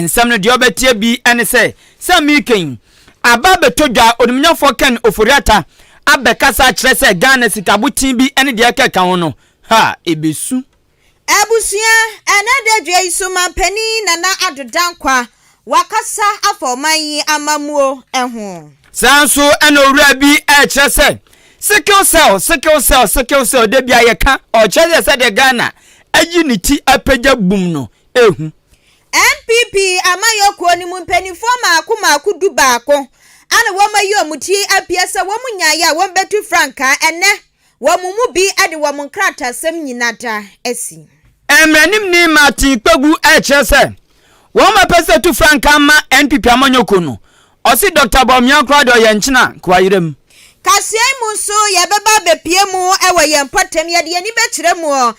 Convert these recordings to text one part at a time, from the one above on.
Nsɛm no deɛ ɔbɛteɛ bi ne sɛ, Sɛ mereka yi, aba abɛtɔ dwa, Onimnyafoɔ Ken Ofori-Atta abɛkasa akyerɛ sɛ Ghana sikaboten bi ne deɛ ɛkeka ho no, ha ɛbɛsu. Abusua, Ɛnnɛ dadua yi so Manpanin Nana Addo Dankwa wakasa afa ɔman yi amammuo ho. Saa ara nso na owura bi rekyerɛ sɛ sickle cell, sickle cell, sickle cell, da biara yɛka, ɔkyerɛ sɛ sɛdeɛ Ghana ayi ne ti apagya bum no, ehu. NPP amanyɔkuo no mu mpaninfoɔ maako maako du baako a na wɔn ayi wɔn ti apue sɛ wɔn nyaeɛ a wɔn bɛtu frankaa ɛnɛ wɔn mu bi de wɔn nkratasɛm nyina da asi. Mmranimni Martin Kpeagu ɛrekyerɛ sɛ wɔn apɛ sɛ tu frankaa ma NPP amanyɔkuo no Ɔse Doctor Bawumia koraa deɛ ɔyɛ nkyena Kuayire mu. Kaseɛ yi mu nso yɛbɛba abɛpue mu wɔ yɛn mpɔtam. Yɛde yɛn ani bɛkyerɛ mu wɔ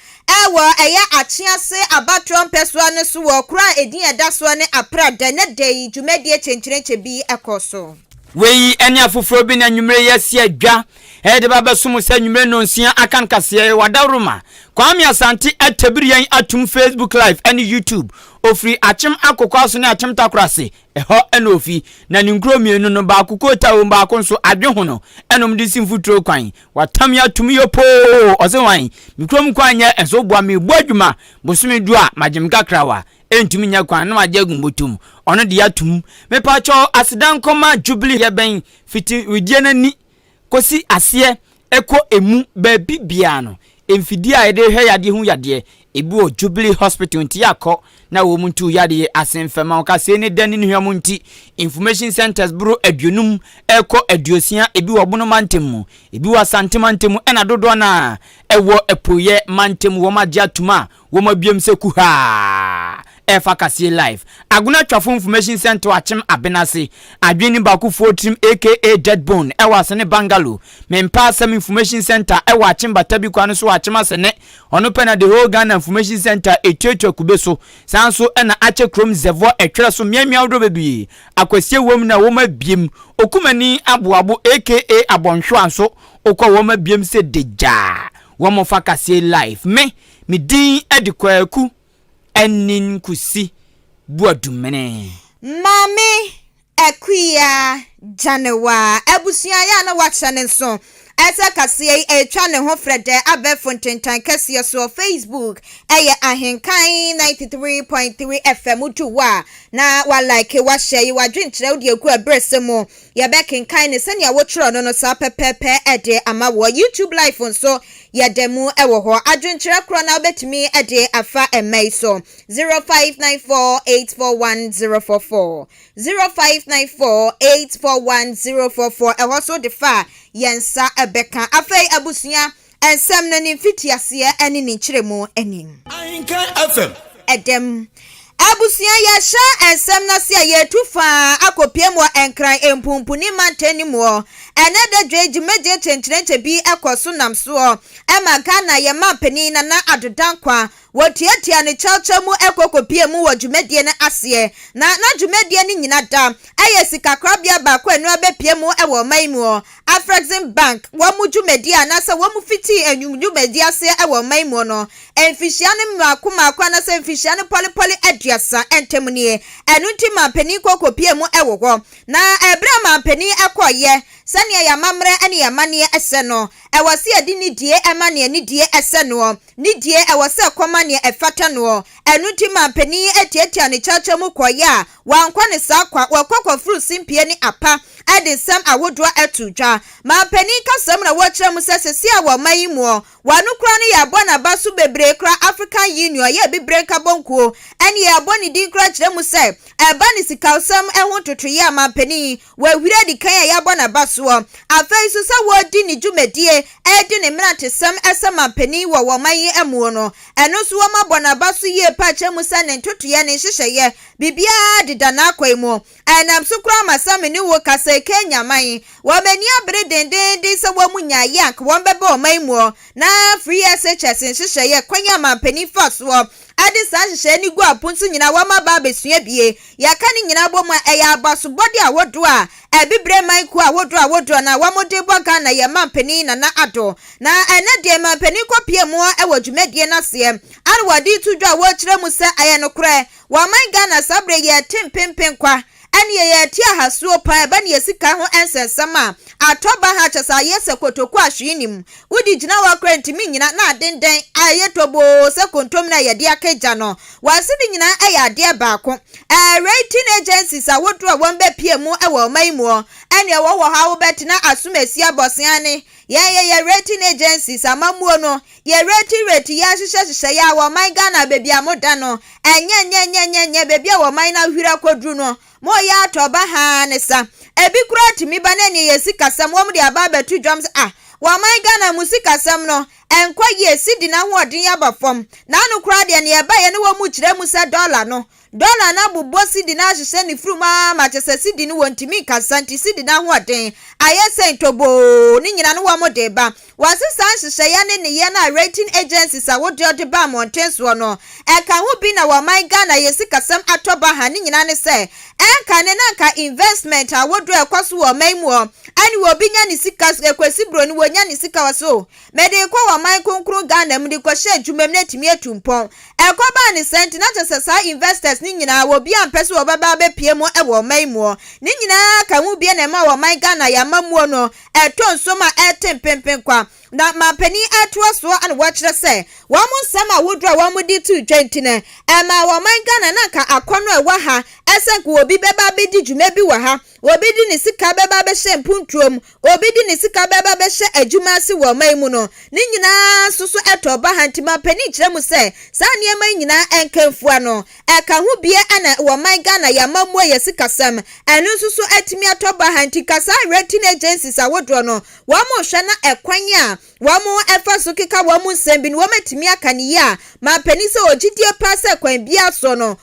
ɛyɛ Akyease abatoɔ mpɛsoa no so wɔ kuro a ɛdin ɛda soɔ ne Aprɛ da. Nnɛ da yi dwumadie kyenkyerenkye bi kɔ so. Wei ne afoforɔ bi na anwummere yi asi adwa de ba abɛso mo sɛ anwummere nnɔnsia aka no kaseɛ yi Wadawuruma Kwame Asante atabiri yɛn atom Facebook live ne YouTube. Ɔfiri Akyem Akokoaso ne Akyem Takorase Ɛhɔ na ofi, na ne nkuro mmienu no, baako Kota wom, baako nso Adwehono, ɛnom de si mfuturo kwan. Watam me ato me yopoo! Ɔse hwan? Me kurom kwan nyɛ nso, boa me, bɔ adwuma, bosome du a, magye me kakrawa, ɛntumi nyɛ kwan, na magye agu mbotom, ɔno deɛ atom. Mepakyɛw, aseda nkɔma Jubilee, yɛbɛn, fiti wedeɛ no ani, kɔsi aseɛ kɔ ɛmu baabi biara no, mfidie a yɛde hwɛ yadeɛ hu yadeɛ, ebi wɔ Jubilee Hospital nti yɛakɔ na wɔn ntu yadeɛ ase mfɛma ɔkasɛɛ ne dɛ ne ne hwam nti information centres boro aduonum rekɔ aduosia ebi wɔ Bono mantam mu, ebi wɔ Asante mantam mu ɛna dodoɔ no ara ɛwɔ Apueɛ mantam wɔn agye atum a Wɔma biom sɛ kuhaa ɛfa kaseɛ live agona twafo information sɛnto akyem abenase adwene nim baako foɔ tirim aka dead bone ɛwɔ asene bangalo me mpa asɛm information center ɛwɔ akyem batabi kwa no so akyem asene ɔno pɛ na the whole Ghana information center etuatua kube so saa nso ɛna akyɛ krom zɛvɔ ɛtwerɛ so mmeammea ahodoɔ bebie akwasie wɔ mu na wɔma biem okumani aboabo aka abɔnhwewa nso okɔ wɔma biem sɛ degya wɔn fa kaseɛ live me Me din de Kwaku Anin Kusi Boadumene. Maame Akua Gyanewaa abusua yɛ a na wɔakyɛ ne nso sɛ kaseɛ yi ɛretwa ne ho frɛdɛ abɛɛfo ntentan kɛseɛ soɔ, Facebook, ɛyɛ Ahenkan ninety three point three FM, wotu hɔ a na wa like, wa share, yi w'adwenkyerɛ wode agu ɛberɛsɛ mu. Yɛbɛkenkan no sɛnea wotwerɛ no no saa pɛpɛɛpɛ de ama wo. YouTube Live nso, yɛda mu wɔ hɔ. Adwenkyerɛ korɔ no ara wobɛtumi de afa mma yi so, 0594841044, 0594841044. Ɛhɔ nso wode fa a, yɛn nsa bɛka. Afei abusua, Nsɛm no ne mfitiaseɛ ne ne nkyerɛmu nim. Ahenka FM. Ɛdɛm. Abusua yɛhyɛ nsɛm no ase a yɛretu faa akɔpiem wɔ Nkran Mpunpuni mantam no muɔ. Ɛnɛ dadwa yi dwumadie kyenkyerenkye bi kɔ so nam soɔ ma Ghana yɛn manpanin Nana Addo Dankwa Wɔtuatua no kyɛwkyɛw mu kɔ kɔpue mu wɔ dwumadie no aseɛ, na na dwumadie no nyina da yɛ sikakorabea baako a ɛno ara bɛpue mu wɔ ɔman yi mu hɔ, Afreximbank, wɔn dwumadie anaasɛ wɔn fitii anwum dwumadie aseɛ wɔ ɔman yi mu hɔ no mfihyia no mmaako mmaako anaasɛ mfihyia no pɔlepɔle aduasa ntam nie. Ɛno nti manpanin kɔ kɔpue mu wɔ hɔ, na berɛ a manpanin kɔeɛ, sɛdeɛ yɛn amammerɛ ne yɛn amanneɛ sɛ no, ɛwɔ sɛ yɛde nidie ma deɛ nidie sɛ noɔ, ne deɛ ɛwɔ sɛ ɛkɔma nea ɛfata noɔ. Ɛno nti maa panin yi tiatiaa ne kyaakyɛ mu kɔeɛ a wankɔ ne saa kwa, wakɔ akɔforo simpie ne apa de nsɛm ahodoɔ ato dwa. Maa panin kasam na wɔkyerɛɛ mu sɛ seesei a wɔ ɔman yi muɔ, wano koraa no yɛabɔ n'aba so bebree koraa African Union yɛ Abibire Nkabɔnkuo ɛne yɛabɔ ne din koraa kyerɛ mu sɛ ɛba ne sikawsɛm ho ntotoeɛ a maa panin yi W'ahuri adi kan a yɛabɔ no abasoɔ. Afei nso sɛ wɔredi ne dwumadie, ɛredi ne mmerantesɛm sɛ manpanin wɔ wɔn man yi muo no, ɛno nso wɔabɔ no abaso yie paa kyerɛ mu sɛ ne ntotoeɛ, ne nhyehyɛeɛ, biribiara deda n'akwan mu. Ɛnam so koraa ma sɛ me ne wo rekasa yi Kenya man, wɔn ani abere dendeenden sɛ wɔn nyaa yɛ a anka wɔbɛba wɔn man muo na free SHS nhyehyɛeɛ kwan a manpanin fa soɔ Ɛde saa nhyehyɛe no gu apon so nyinaa, wɔma ba abesua bie. Yɛka ne nyinaa bɔ mu a, ɛyɛ abasobɔde ahodoɔ a Abibire man kuo ahodoɔ ahodoɔ no a wɔde bɔ Ghana yɛn manpanin Nana Addo. Na ɛnnɛ deɛ manpanin kɔpie mu hɔ wɔ dwumadie no aseɛ a na wɔde reto dwa a wɔrekyerɛ mu sɛ ayɛ nokorɛ, wɔ ɔman Ghana saa berɛ yi a yɛrete mpenpen kwa Ɛnneɛ yɛte ahasuo paa a ɛba ne yɛ sika ho nsɛnsɛm a atɔ baha a kyɛsɛ ayɛ sɛ kotokuo a hwee nnim. Wodi gyina hɔ a koraa ntumi nnyina na aden dɛn a ɛyɛ toboo sɛ kontomire a yɛde aka gya no. Wɔn ase no nyinaa yɛ adeɛ baako. Ɛɛ rating agencies a wodoɔ a wɔn bɛpie mu wɔ ɔman yi muɔ. Ɛnneɛ wɔwɔ hɔ a wobɛtena asom asia bɔsea ne yɛn yɛyɛ rating agencies amammuo no Yɛ rate rate yɛ ahyehyɛ hyehyɛ yɛ a wɔ ɔman Ghana baabi a mo da no ɛnyɛ nyɛ nyɛ nyɛ nyɛ baabi a wɔ ɔman no ahwiri akɔduru no mo yɛ atɔ ba haa ne sa ebi koraa tumi ba na ɛneɛ yɛ sikasɛm wɔn de aba abɛto dwam sɛ ah wɔ ɔman Ghana mo sikasɛm no ɛnkɔ yie sidi no ahoɔden aba fam naano koraa deɛ neɛ ɛbaeɛ no wɔn kyerɛ mu sɛ dollar no Dɔla no abobɔ sidi no ahyehyɛ ne firi mu ara ma kyɛ sɛ sidi no wɔntumi nkasa nti sidi no ahoɔden ayɛ sɛ ntoboo ne nyina no wɔn de ba. Wɔase saa nhyehyɛeɛ ne nneyɛɛ no a rating agencies ahodoɔ de ba mmɔnten soɔ no. Ɛka ho bi na wɔ ɔman Ghana yɛ sikasɛm atɔ baha ne nyina ne sɛ ɛnkane na nka investment ahodoɔ ɛkɔ so wɔ ɔman mu hɔ ɛne obi nya ne sika ɛkɔsi broni wɔnya ne sika wɔ so mede rekɔ wɔ ɔman kronkron Ghana mu de rekɔhyɛ adwuma mu na atumi atu mpɔn. Ɛkɔbaa ne saa nti na kyerɛ sɛ saa investors no nyinaa wɔbi ampɛ sɛ wɔbɛba abɛpue mu wɔ ɔman muɔ. Ne nyinaa ka ho bie na ɛma wɔ ɔman Ghana yɛn amammuo no ɛtɔ nsom a ɛrete mpenpen kwa. Na mampanin atoa soɔ na wɔkyerɛ sɛ wɔn nsɛm ahodoɔ a wɔn de too dwa nti no ɛmaa wɔ ɔman Ghana na anka akɔnnɔ a ɛwɔ ha sɛ anka obi bɛba abɛdi dwuma bi wɔ ha Obi de ne sika bɛba abɛhyɛ mponturo mu, obi de ne sika bɛba abɛhyɛ adwuma ase wɔ ɔman mu no, ne nyinaa nso so ɛtɔ ba ha. Nti mampanin kyerɛ mo sɛ, saa nneɛma yi nyinaa ɛnka mfua no. Ɛka ho bie ɛna wɔ ɔman Ghana, y'amammuo, yɛ sikasɛm, ɛno nso so atumi atɔ ba ha. Nti ka saa rating agencies ahodoɔ no, wɔn hwɛ na ɛkwan a wɔn ɛfa so keka wɔn nsɛm bi no, wɔn atumi aka no yie a, mampanin sɛ ɔwɔ gyidie paa sɛ kwan biara soɔ no,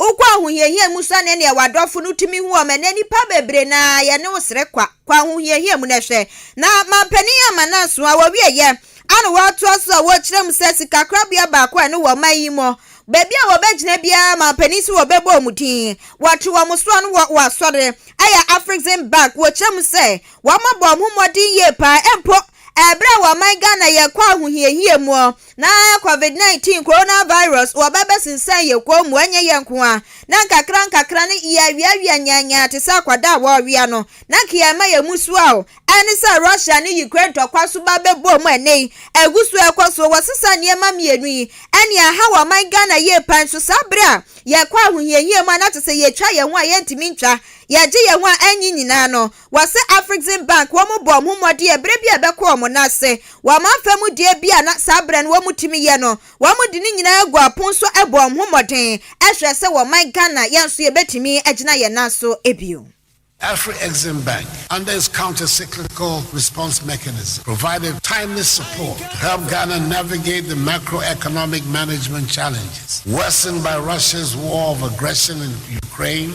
Wokɔ ahohiahia mu sɛnea nea w'adɔfo no tumi hu wɔn ɛnnɛ. Nnipa bebree na yɛne wo srɛ kwa. Kɔ ahohiahia mu na hwɛ. Na Manpanin Amananso a wɔwieyɛ a na wɔatoa so a wɔrekyerɛ mu sɛ sikakorabea baako a ɛne wɔ ɔman yi mu, baabi a wɔbɛgyina biara Manpanin se wɔbɛbɔ wɔn din. Wɔto wɔn so ano wɔ w'asɔre a ɛyɛ Afrikzenberg. Wɔkyerɛ mu sɛ wɔabɔ wɔn ho mmɔden yie paa mpo Ɛberɛ a wɔman Ghana yɛ kɔ ahohiahia muɔ na covid 19 corona virus wɔbɛ bɛsensɛn yɛ kɔn mu ɛnyɛ yɛ nko a na nkakra nkakra no yɛ awiawia nyanyaa te sɛ akwadaa a wɔrewea no na nka yɛ ma yɛ musuaɔ ɛne sɛ Russia ne Ukraine tɔkwa so ba bɛ bɔɔ mu ɛnɛ yi ɛgu so ɛkɔ so wɔsesa nneɛma mmienu yi ɛne ahaw ɔman Ghana yie pan so saa berɛ a yɛ kɔ ahohiahia mu a na te sɛ yɛ twa yɛ ho a yɛ ntumi ntwa yɛ gye yɛ ho a ɛnye nyinaa no Wɔse Afreximbank wɔn bɔɔ wɔn ho mmɔden yɛ berɛ bi a ɛbɛkɔ wɔn nan ase wɔ amamfa mu deɛ bi a na saa berɛ no wɔn tumi yɛ no wɔn de ne nyinaa guu apon so bɔɔ wɔn ho mmɔden hwɛɛ sɛ wɔ man Ghana yɛn nso yɛbɛtumi agyina yɛn nan so bio. Afreximbank under its counter cyclical response mechanism provided timely support to help Ghana navigate the macro economic management challenges worsened by Russia's war of aggression in Ukraine,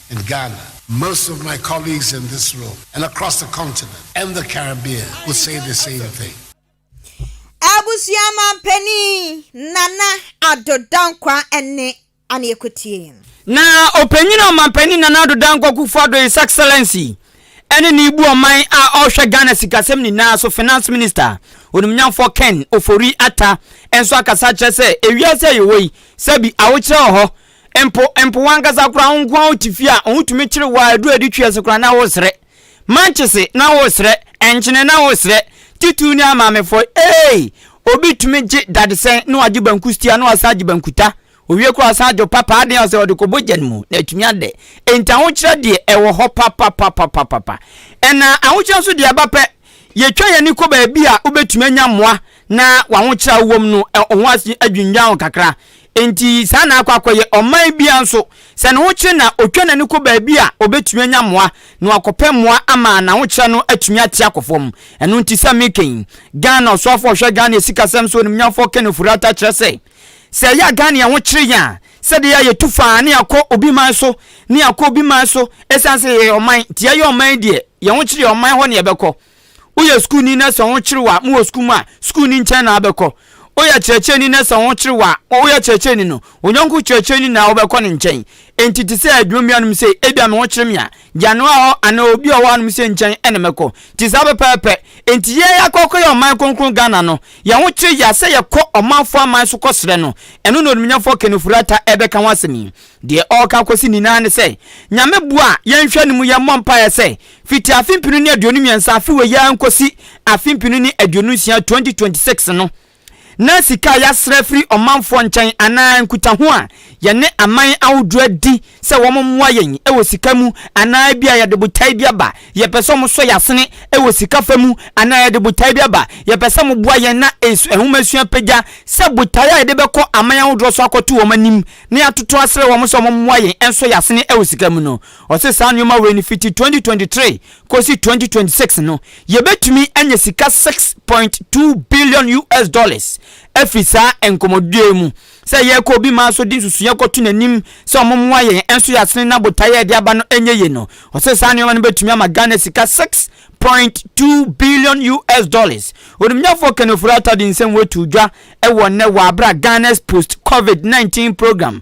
in Ghana. Most of my colleagues in this room and across the continent and the Caribbean would say the same thing. Abusua Manpanin Nana Addo Dankwa ne Annie Kotee. Na Ɔpanyin Ɔmanpanin Nana Addo Dankwa Kufuor-Addo His Excellency ne ne bu ɔman a ɔrehwɛ Ghana sikasɛm nyinaa so Finance Minister Onimnyamfoɔ Ken Ofori-Atta nso akasa akyerɛ sɛ ewiase a yɛwɔ yi sɛbi awokyerɛ wɔ hɔ Mpo mpo wankasa koraa wo nko a wote fie a wotumi kyere wo a aduru adi twe ase koraa na wosrɛ. Mankyese na wosrɛ, nkyene na wosrɛ, titiriw ne amaamefɔe. Eei! Obi tumi gye dadesɛn na wagye banku stia na wasan agye bankuta. Owie koraa ɔsan agye ɔpapa aden a sɛ ɔde kɔbɔ gya no mu na atumi adɛ. Enti ahokyerɛ deɛ ɛwɔ hɔ papapapapapa. Ɛna ahokyerɛ nso deɛ ɛba pɛ. Yɛtwa yɛn ani kɔ baabi a wobɛtumi anya mmoa na w'ahokyerɛ a wowɔ mu no, wo ho adwinnwan wo kakra. Enti saa na akɔ akɔyɛ. Ɔman biara nso, sɛ ne ho kyere no a, ɔtwa n'ani kɔ baabi a ɔbɛtumi anya mmoa na wakɔpɛ mmoa ama n'ahokyerɛ no atumi ate akɔ fam. Ɛno nti sɛ meka yi, Ghana ɔsoafoɔ a ɔhwɛ Ghana asikasɛm so animuonyamfoɔ Kenneth Furata kyerɛ sɛ, sɛ ɛyɛ a Ghana yɛn ho kyere yɛn a, Sɛdeɛ a yɛtu fa ne akɔ obi man so ne akɔ obi man so ɛsiane sɛ yɛyɛ ɔman nti yɛyɛ ɔman deɛ yɛn ho kyere yɛ ɔman hɔ na yɛbɛkɔ woyɛ sukuuni na sɛ ho kyere wo a mowɔ sukuu mu a sukuuni nkyɛn na wobɛkɔ woyɛ kyerɛkyerɛni na sɛ ho kyere wo a woyɛ kyerɛkyerɛni no onyɔnko kyerɛkyerɛni na wobɛkɔ ne nkyɛn nti te sɛ adwuma bianom sei ebia me ho kyere me a gya noa hɔ anaa obi a ɔwɔ hanom sɛ nkyɛn na mɛkɔ nti saa pɛpɛɛpɛ nti yɛ akɔkɔ yɛ ɔman kronkron Ghana no yɛn ho kyerɛ yɛ sɛ yɛkɔ ɔmanfoɔ aman so kɔ srɛ no ɛno na onimnyamfoɔ Ken Ofori Atta ɛbɛka ho asɛm yi deɛ ɔreka akɔsi nyinaa ne sɛ Nyame boa yɛn hwɛ no mu yɛn mmɔ mpaeɛ sɛ fiti afe mpenu ne aduonu mmiɛnsa afe wei yɛ nkɔsi afe mpenu ne aduonu nsia 2026 no na sika a yɛasrɛ afiri ɔmanfoɔ nkyɛn anaa nkutaho a yɛne aman ahodoɔ adi sɛ wɔmmoa yɛn wɔ sika mu anaa ebia yɛde botae bi aba, yɛpɛ sɛ wɔsɔ yɛn asene wɔ sika fa mu anaa yɛde botae bi aba, yɛpɛ sɛ moboa yɛn na nhomasua pagya sɛ botae a yɛde bɛkɔ aman ahodoɔ so akɔto wɔn anim na yɛatoto asrɛ wɔn sɛ wɔmmoa yɛn nsɔ yɛn asene wɔ sika mu no. Ɔse saa nnoɔma wei no fiti 2023 Kosi twenty twenty six no, yebetumi anya sika six point two billion US dollars afi saa nkɔmmɔdie yi mu. Sɛ yɛrekɔ obi maa so de nsusuiɛ kɔto n'anim sɛ wɔmmoa yɛn nso yɛasene na botaeɛ a yɛde aba no nyɛ yie no, ɔse saa nneɛma no betumi ama Ghana sika six point two billion US dollars. Onimnyafoɔ Ken Ofori-Atta de nsɛm wei too dwa wɔ nnɛ wɔ abere a Ghana's Post-Covid nineteen Programme,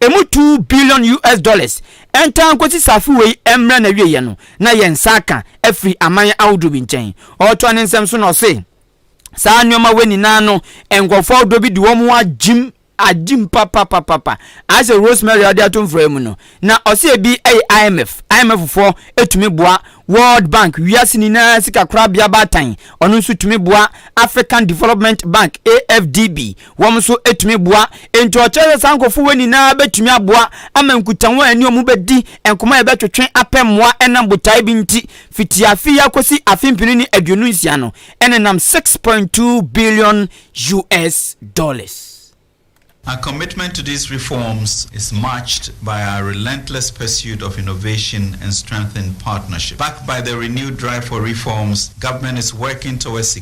Emu two billion US dollars ntaa nkosi saafo wei mmra n'awieɛ no na yɛn nsa aka afiri aman ahodoɔ bi nkyɛn. Ɔretoa ne nsɛm so na ɔse saa nnoɔma wei nyinaa no nkorɔfoɔ ahodoɔ bi de wɔn ho agyim agyim papapapapa ayɛ sɛ rosemary a ɔde ato mfra mu no na ɔse ebi yɛ IMF IMF foɔ etumi boa World Bank wiase nyinaa sika korabea baatan ɔno nso tumi boa African Development Bank AFDB Wɔn nso tumi boa. Enti ɔkyerɛ sɛ saa nkurɔfo wei nyinaa bɛtumi aboa ama nkutaho a ɛne wɔn bɛdi nkɔmmɔ a yɛbɛtwetwe apɛ mmoa ɛnam botae bi nti fiti afe yi akɔsi afe mpenu ne aduonu nsia no ɛnenam six point two billion US dollars. Our commitment to these reforms is matched by our relentless pursuit of innovation and strengthened partnership. Backed by the renewed drive for reforms, Government is working towards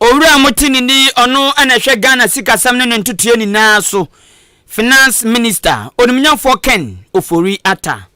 Owura Motini ni ɔno na ɛhwɛ Ghana sikasɛm ne ne ntotoeɛ nyinaa so, Finance Minister, Onimnyamfoɔ Ken Ofori Atta.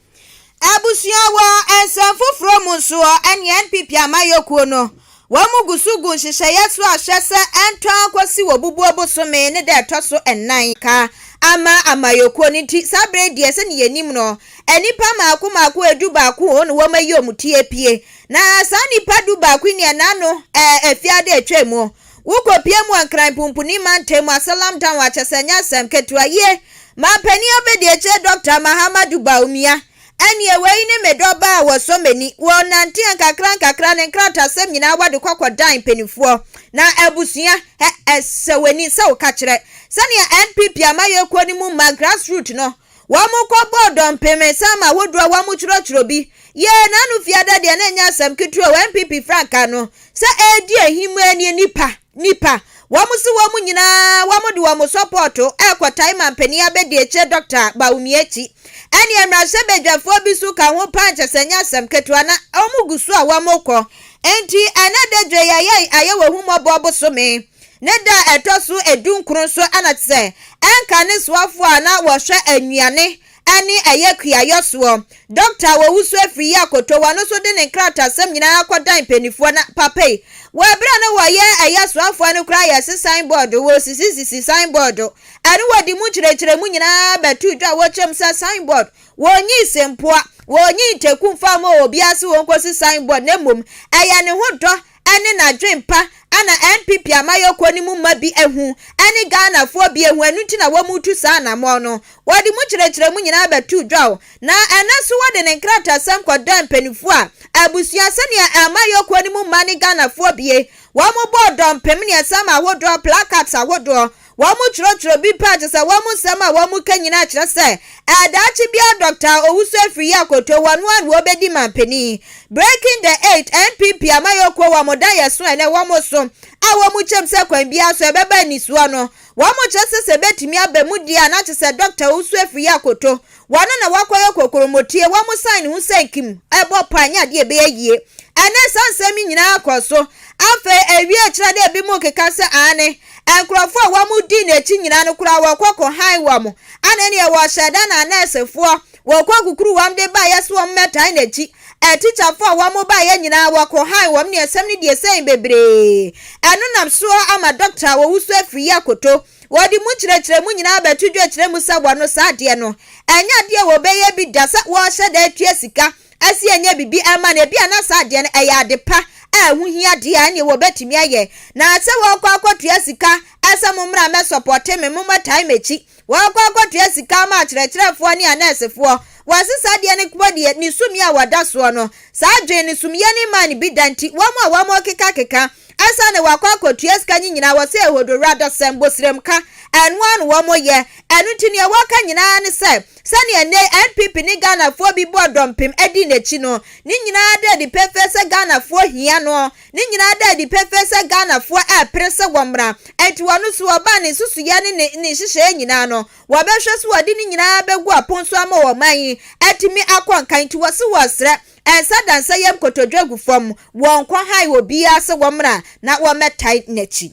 Abusua wɔ nsɛm foforɔ mu nso wɔ ɛneɛ NPP amayɔkuo no wɔn gu so gu nhyehyɛeɛ so a hwɛ sɛ ɛntɔn kɔsi wɔ bubuo bosome ne da ɛtɔ so nnan ka ama amayɔkuo no nti saa berɛ yi deɛ sɛdeɛ yɛnim no nnipa maako maako ɛdu baako wɔn na wɔn ayi wɔn ti apue Na saa nnipa du baako yi nea n'ano ɛɛ efi ade a etwa mu. Wokopue mu wɔ Nkran Pumpuni Mantam mu Asalam Town a kyerɛ sɛ ɛnyɛ asɛm ketewa. Yie, Manpanin Abadiakyire Dɔkta Mahamadou Bawumia, Ɛneɛ wei ne me dɔ baa a wɔsɔ m'ani. Wɔnanteɛ nkakrankakra, ne nkratasɛm nyinaa wɔde kɔ kɔdan mpanimfoɔ. Na abusua, ɛ, ɛsɛ w'ani sɛ woka kyerɛ. Sɛnea NPP amayɛkuo no mu mma, grassroot no, Wɔkɔbɔɔ dɔmpem nsa ma ahodoɔ a wɔtwerɛtwerɛ bi yɛɛ n'ano fiada deɛ na ɛnyɛ asɛm ketewa wɔ NPP frankaa no sɛ ɛredi ahimmaa nie nipa nipa wɔn se wɔn nyinaa wɔde wɔn sɔpɔɔto rekɔtae mampanin abɛdiakyire Dɔkta Bawumia akyi ɛne mmarahyɛbadwafoɔ bi so ka ho paa nkyɛ sɛ ɛnyɛ asɛm ketewa na wɔgu so a wɔkɔ enti ɛnɛ dadwo yi ayɛ ayɛ wɔ ahummɔbɔ bosome Ne da a ɛtɔ so adunkron so na te sɛ ɛnka ne soafoɔ a na wɔhwɛ nnuane ne ɛyɛ kuayɔ soɔ, dɔkta a wɔwusu afiri yi akoto wɔn no so de ne nkratasɛm nyinaa kɔdan mpanimfoɔ na papei. Wɔ ɛberɛ a na wɔyɛ ɛyɛ soafoɔ no koraa yɛse sign board, wɔsisisisi sign board ɛne wɔde mu nkyerɛkyerɛmu nyinaa bɛtoo dwa a wɔkyerɛ mu sɛ sign board wɔnyii sempoa, wɔnyii nteku mfaa mu wɔ obiara se wɔnkɔsi sign board na mmom ɛyɛ ne ho dɔ ne n'adwempa na NPP amayɔkuo no mu mma bi ahu ne Ghanafoɔ bi ahu, ɛno nti na wɔretu saa anammɔn no. Wɔde mu kyerɛkyerɛmu nyinaa bɛtoo dwaw, na ɛnnɛ nso wɔde ne nkratasɛm kɔdaa mpaninfoɔ a abusua sɛdeɛ amayɔkuo no mu mma ne Ghanafoɔ bie wɔbɔɔ dɔmpem mmiɛnsa ma ahodoɔ, placards ahodoɔ, Wɔkyerɛkyerɛ bi paa te sɛ wɔn nsɛm a wɔka nyinaa kyerɛ sɛ ɛɛ daakye biara Dɔkta a ɔwusu afiri yɛ akoto wɔn a na wɔbɛdi manpanin Breaking the Eight NPP amanyɔkuo wɔn daeɛso a ɛnɛ wɔso a wɔkyɛm sɛ kwan biara so ɛbɛba anisoɔ no wɔkyerɛ sɛ sɛ ɛbɛtumi aba mu deɛ a na kyerɛ sɛ Dɔkta ɔwusu afiri yɛ akoto Wɔn na wɔakɔyɛ kokromotue, wɔsan ne ho sɛ nkim, ɛbɔ pɔ anyɛ adeɛ a ɛbɛyɛ yie. Ɛnnɛ saa nsɛm yi nyinaa kɔ so. Afei ɛwie kyerɛ dɛ binom keka sɛ aane, nkurɔfoɔ a wɔdii n'akyi nyinaa no koraa wɔkɔ kɔhan wɔn. Ana ɛnneɛ wɔhyɛɛ da na nɛɛsefoɔ wɔkɔ kukuru wɔn de baeɛ sɛ wɔmmɛtan n'akyi? Atikyafoɔ a wɔbaeɛ nyinaa wɔkɔhan wɔn ne asɛm no deɛ sɛn bebree. Ɛno nam so ara ama dɔkta a ɔwusu afiri yi akoto. Wɔde mu nkyerɛkyerɛmu nyinaa bɛto dwa kyerɛ mu sɛ wɔno saa adeɛ no. Ɛnyɛ adeɛ a wɔbɛyɛ bi da sɛ wɔrehyɛ da atua sika ɛse ɛnyɛ biribi ɛma no. Ebia na saa adeɛ no ɛyɛ ade pa a ɛho hia deɛ a ɛneɛ wɔbɛtumi ayɛ. Na sɛ wɔrekɔ akɔtua sika ɛsɛ mommra mɛsɔpɔte me, mommɛtae m'akyi. Wɔrekɔ akɔtua sika ama akyerɛkyerɛfoɔ ne anɛɛsefoɔ. Wɔse saa adeɛ no kpɔ deɛ ne sumii a wɔda soɔ no. Saa adwene no sumiyɛ no mmaa no bi da nti wɔn a wɔrekekakeka ansa na wakɔ akɔtua sika nye nyinaa wɔ sɛ Hodowura Dɔsɛ Mbosrem ka, ɛno ara na wɔn yɛ. Ɛno nti nea wɔka nyinaa ne sɛ, sɛnea nnɛ yi NPP ne Ghanafoɔ bi bɔɔ dɔmpem di n'akyi no, ne nyinaa da adi pefee sɛ Ghanafoɔ hia no, ne nyinaa da adi pefee sɛ Ghanafoɔ repere sɛ wɔmmra, ɛnti ɔno nso ɔbaa ne nsusuiɛ ne ne ne nhyehyɛeɛ nyinaa no, wɔbɛhwɛ so wɔde ne nyinaa bɛgu apon so ama ɔman yi atumi akɔ nkan, nti wɔse wɔresrɛ Ɛnsa da nsa yam kotodwe agu fam, wɔnkɔ hae obiara sɛ wɔmmra na wɔmmɛtae n'akyi.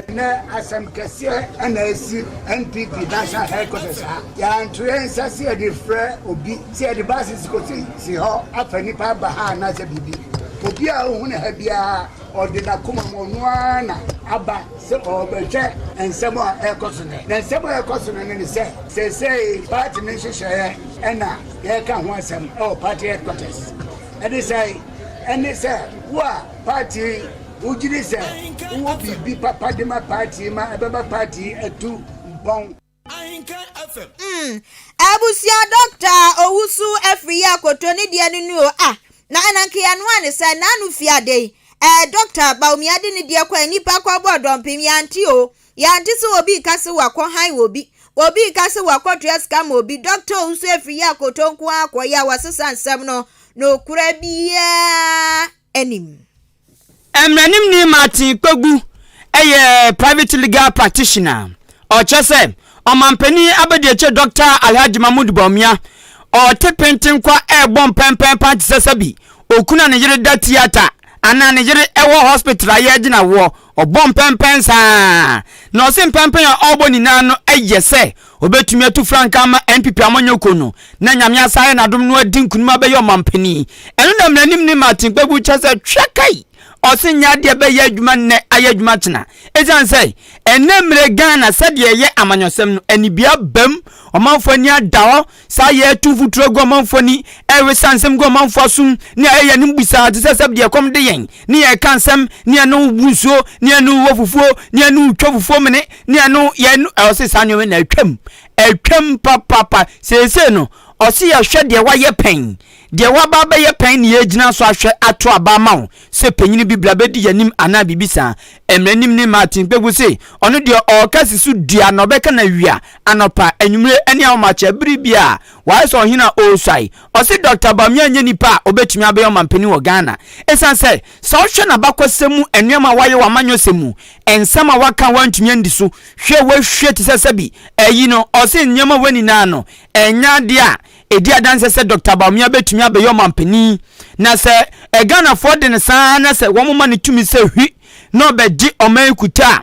Ɛnɛ asɛm kɛseɛ na ɛsi NPP national headquarters ha. Yɛanto yɛn nsa sɛ yɛde frɛ obi Sɛ yɛde ba asese kɔ sese hɔ afa nipa aba ha anaasɛ biribi, obi a ohu ne ha biara ɔde n'akoma mu ɔno ara na aba sɛ ɔrebɛhwɛ nsɛm a ɛrekɔ so nɛ. Na nsɛm a ɛrekɔ so nɛ no ne sɛ, seesei party ne nhyehyɛeɛ ɛna yɛreka ho asɛm ɛwɔ party headquarters. Ɛde sɛe? Ɛne sɛ wo a party wogyidi sɛ wowɔ biribi papa de ma party ma ɛbɛma party atu mpɔn. Ahenkan FM. Mm, abusua dɔkta owusu afiri yi akoto ne deɛ no nu o ah na ɛna nkeya no a ne sɛ na ano fi ade yi ɛɛ dɔkta baomia de ne deɛ kwan nipa kɔ bɔ dɔmpem yante o yante sɛ obi ka sɛ wakɔ han wɔ bi obi ka sɛ wakɔ tua sika ma obi dɔkta owusu afiri yi akoto nko akɔ yɛ a wasesa nsɛm no no kura biaa anim Mmaranimni Martin Kpebu yɛ private legal practitioner a ɔkyerɛ sɛ Ɔmanpanin Abadiakyire Dɔkta Alhaji Mahmood Bawumia ɔte penten kwa rebɔ mpɛnpɛnpan te sɛ sɛbi okunu a ne yere da theatre anaa ne yere wɔ hospital a yɛregye no awoɔ Ɔbɔ mpɛnpɛn saa na ɔse mpɛnpɛn a ɔrebɔ nyinaa no yɛ sɛ obetumi atu frankaa ama NPP amanyɔkuo no na Nyame asan ayɛ n'adom na wadi nkunim abɛyɛ ɔmanpanin. Ɛno na mmaraninmni Martin Kpebu kyerɛ sɛ twɛ kai ɔse nyɛ adeɛ ɛbɛyɛ adwuma nnɛ ayɛ adwuma kyena ɛsiane sɛ ɛnnɛ mmerɛ Ghana sɛdeɛ ɛyɛ amanyɔsɛm no anibia abam, ɔmanfoɔ ani ada hɔ, Saa yɛ ɛto mfuturo aguamanfoɔ ani ɛrewe saa nsɛm guamanfoɔ asom ne a ɛyɛ anom busaa te sɛ sɛbdeɛ ɛkɔm de yɛn ne yɛn reka nsɛm ne yɛne wo bu nsuo ne yɛne wo wɔ fufuo ne yɛne wo twa fufuo mene ne yɛne wo yɛn ɛwɔ se saa nneɛma nyinaa atwam atwam papapa seesei no ɔse yɛhwɛ deɛ wayɛ pɛn Deɛ woaba abɛyɛ pɛn ne yɛregyina so ahwɛ ato aba ama wo sɛ panyin bi bra bɛdi yɛanim anaa biribi saa. Mmaranim ne Martin Kpeku se ɔno deɛ ɔreka si so dua na ɔbɛka no awia, anɔpa, anwummere ne ahomakyɛ bere biara wayɛ sɛ ɔhene a ɔresuae. Ɔse Dɔkta Bawumia nyɛ nipa a ɔbɛtumi abɛyɛ ɔmanpanin wɔ Ghana ɛsiane sɛ sɛ wohwɛ n'abakɔsɛm mu nnoɔma a wayɛ wɔ amanyɔsɛm mu, nsɛm a waka a wantumi andi so hwɛ wahwie te sɛ sɛbi ayi no. Ɔse nnoɔma wei nyinaa no ɛnyɛ adeɛ a Ɛdi adanseɛ sɛ Dɔkta Bawumia bɛtumi abɛyɛ ɔmanpanin na sɛ Ghanafoɔ de no saa ara na sɛ wɔma no tumi sɛ hwi na ɔbɛgye ɔman yi kuta a,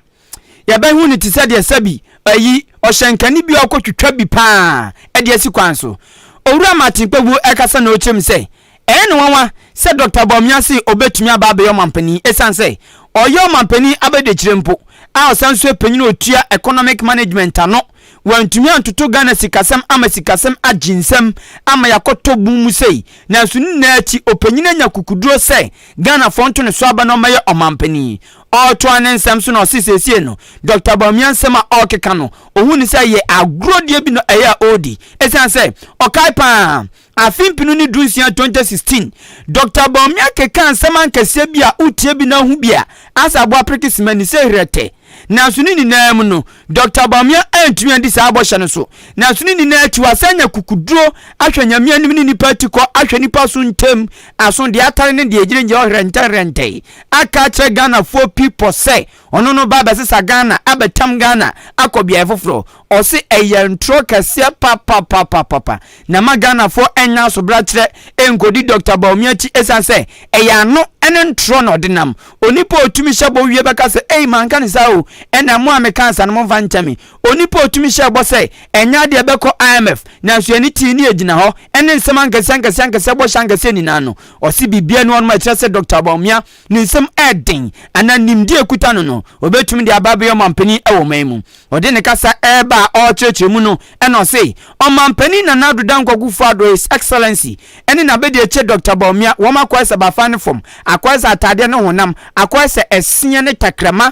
yɛbɛhu no te sɛ deɛ sɛbi ayi ɔhyɛnkani bi a ɔkɔtwitwa bi paa de asi kwan so. Owura Martin Kpebu ɛkasa na ɔkyerɛm sɛ Ɛyɛ no nwanwa sɛ Dɔkta Bawumia se obetumi aba abɛyɛ ɔmanpanin esiane sɛ ɔyɛ ɔmanpanin abadiakyire mpo a ɔsan nso yɛ panyin a otua economic management ano. Wantumi antoto Ghana sikasɛm ama sikasɛm agye nsam ama yɛakɔtɔ bun mu sei nanso ne nyinaa akyi ɔpanyin anya kukuduro sɛ Ghanafoɔ nto ne so aba na ɔmmɛyɛ ɔmanpanin. Ɔretoa ne nsɛm so na ɔse seesei no Dɔkta Bawumia nsɛm a ɔrekeka no ɔhu no sɛ ɛyɛ agorɔdie bi na ɛyɛ a ɔredi esiane sɛ ɔkae pa ara Afe mpenu ne dunsia 2016, Dɔkta Bawumia kekaa nsɛm ankɛseɛ bi a wotie bi na wohu bi a asɛ aboa apreke sima ani sɛ herɛtɛ. Nanso ne nyinaa mu no, Dɔkta Bawumia antumi adi saa bɔhyɛ no so. Nanso ne nyinaa akyi wasan anya kukuduro ahwɛ Nyame anim ne nnipa atikɔ ahwɛ nnipa so ntam aso deɛ atare ne deɛ ɛgyinagyina hɔ herɛntɛherɛntɛe aka akyerɛ Ghanafoɔ pi pɔ sɛ Ɔno no ba bɛsesa Ghana abɛtam Ghana akɔ beaɛ foforɔ ɔse ɛyɛ ntorɔ kɛseɛ papapapapapa na ma Ghanafoɔ ɛnyɛ asobrakyerɛ nkɔdi Doctor Bawumia akyi ɛsiane sɛ ɛyɛ ano ne ntorɔ na ɔde nam onipa ɔtumi hyɛ bɔ wie bɛka sɛ ei manka ne saa o ɛna mo a mekaa sa no momfa nkyɛ me onipa ɔtumi hyɛ bɔ sɛ ɛnyɛ adeɛ bɛkɔ IMF nanso yɛne tii ne ɛgyina hɔ ɛne nsɛm ankɛseɛ ankɛseɛ ankɛseɛ bɔhyɛ ankɛseɛ nyinaa no ɔse biribiara ni hɔ nom ɛkyerɛ sɛ Doctor Bawumia ne nsam yɛ den anaa nimdeɛ a ɛkuta no no, ɔbɛtumi de aba abɛyɛ ɔmampanin wɔ ɔman mu. Ɔde ne kasa reba a ɔrekyerɛkyerɛ mu no na ɔse, Ɔmampanin Nana Addo Dankwa Akufo-Addo, His Excellency, ne n'abadiakyire Dɔkta Bawumia, wɔn akwae sɛ bafan ne fam, akwae sɛ atadeɛ ne honam, akwae sɛ ɛseɛ ne tɛkrɛma,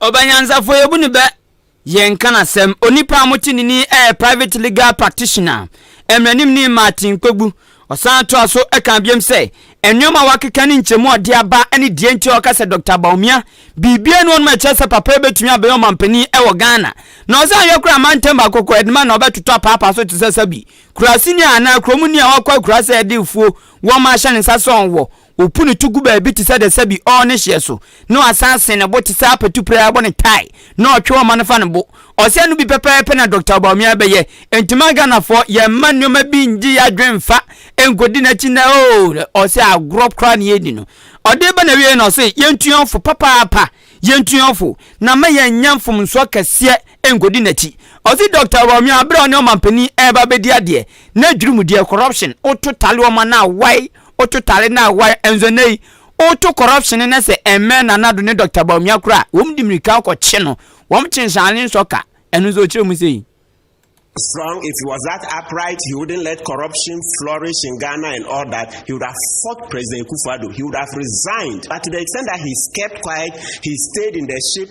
Ɔbanyansafoɔ yɛbu no bɛ yɛnka n'asɛm Onipa a mote ne ni yɛ Private Legal Practitioner Mmranimni Martin Kpogbu Ɔsan toa so ka biom sɛ nnoɔma a wakeka ne nkyɛmu a ɔde aba ne deɛ nti a ɔka sɛ Dɔkta Bawumia biribiara nni hɔ nom a ɛkyerɛ sɛ papa yi bɛtumi abɛyɛ ɔmanpanin wɔ Ghana Na ɔsan yɛ koraa mantam baako kɔ Edema na ɔbɛtotɔ apaapa so te sɛ sɛbi kuraase ni anaa kurom ni a wakɔ akura sɛ ɛde afuo wɔma ahyɛ ne nsa sɛ ɔwɔ Opu ne to gu baabi te sɛ dɛsɛ bi ɔɔ ne hyeɛ so, na ɔasan sen ne bo te sɛ apatu pira a ɔbɔ ne tae, na ɔtwe ɔma no fa ne bo. Ɔsɛ ɛno bi pɛpɛɛpɛ na Dɔkta Bawumia bɛyɛ. Enti ma Ghanafoɔ yɛn mma nneɛma bi ngye yɛn adwene mfa nkɔdi n'akyi nnɛ oo, ɔsɛ agorɔ koraa na yɛredi no. Ɔde ba n'awieɛ no ɔse yɛntu yɛn ho fo papaapa, yɛntu yɛn ho fo, na ma yɛnnya mfomsoɔ kɛseɛ nkɔdi n'akyi. Ɔse Dɔkta Bawumia berɛ a ɔne ɔmampanin ɛreba abɛdi adeɛ, na dwirimudeɛ, corruption, wo totale ɔma no a wai, Woto tare no a why nso nnɛ yi woto corruption no sɛ ɛmmɛn Nana Addo ne Doctor Bawumia koraa a, wɔn de mmirika kɔ kye no, wɔn kye nhyɛane nsɔ ka, ɛno nso ɔkyerɛ mu sei. strong if he was that upright he wouldn't let corruption flourish in Ghana and all that he would have fought President Kufuor he would have resigned but to the extent that he's kept quiet he stayed in the ship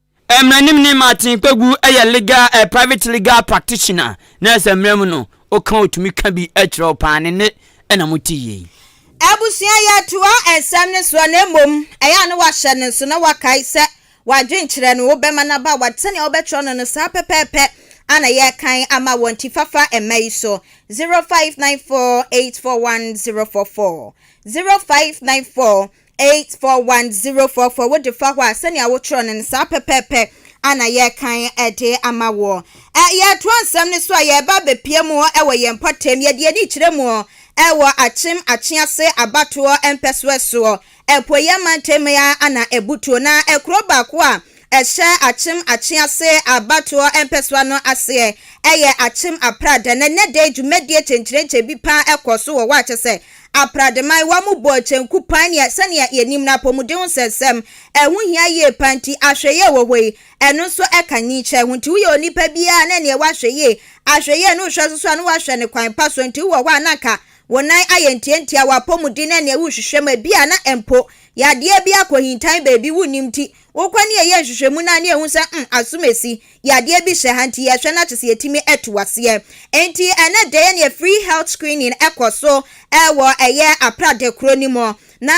Mmaranimni Martin Kpegu yɛ legal eh, private legal practitioner na sɛ mmara mu no woka a ɔtumi ka bi kyerɛ wo paa ne nne na mote yie yi. Abusua yɛtoa nsɛm no soɔ na mmom ɛyɛ a na wahyɛ no nso na wakae sɛ wadwenkyerɛ no wobɛma no aba w'ad sɛnea wobɛtwerɛ no no saa pɛpɛɛpɛ a na yɛrekan ama wɔ nti fafa mma yi so 0594841044 0594 Eight four one zero four four Wo defa hɔ a sɛnea wo twerɛ no no saa pɛpɛɛpɛ ana yɛ kan de ama woɔ. Ɛ yɛ toɔ nsɛm no so a yɛ ba bɛ pie muɔ wɔ yɛn mpɔtam yɛ de ani kyerɛ muɔ wɔ akyem akyease abatoɔ mpɛsoɛ soɔ apueɛ mantam ya ana abutuo na kuro baako a ɛhyɛ akyem akyease abatoɔ mpɛsoa no aseɛ yɛ akyem aprada na nɛdɛ dwumadie kyenkyerenkyɛ bi paa kɔ so wɔ hɔ akyɛ sɛ Aprademanwa mu bɔɔ kyenku pan nea sɛnea yenim no apɔmuden ho nsɛnsɛm, ɛho hia yie pa nti, ahwɛyie wɔ hɔ yi, ɛno nso ka nyikyerɛ ho. Nti woyɛ onipa bi a na ɛneɛ woahwɛ yie, ahwɛyie ne wohwɛ so so a na woahwɛ no kwan pa so, nti wowɔ hɔ a na anka wo nan ayɛ ntiantia, w'apɔmuden ne ɛneɛ worehwehwɛ mu a ebia na mpo yadeɛ bi akɔhintan baabi wonnim nti Wokɔ ne yɛyɛ nhwehwɛmu no a ne yɛhu sɛ mm, asomasi, yadeɛ bi hyɛ ha nti yɛhwɛ na kyesɛ yɛtumi atu aseɛ. Enti ɛnɛ da yɛ neɛ free health screening ɛkɔ so ɛwɔ ɛyɛ Apra da kuro no mu. Na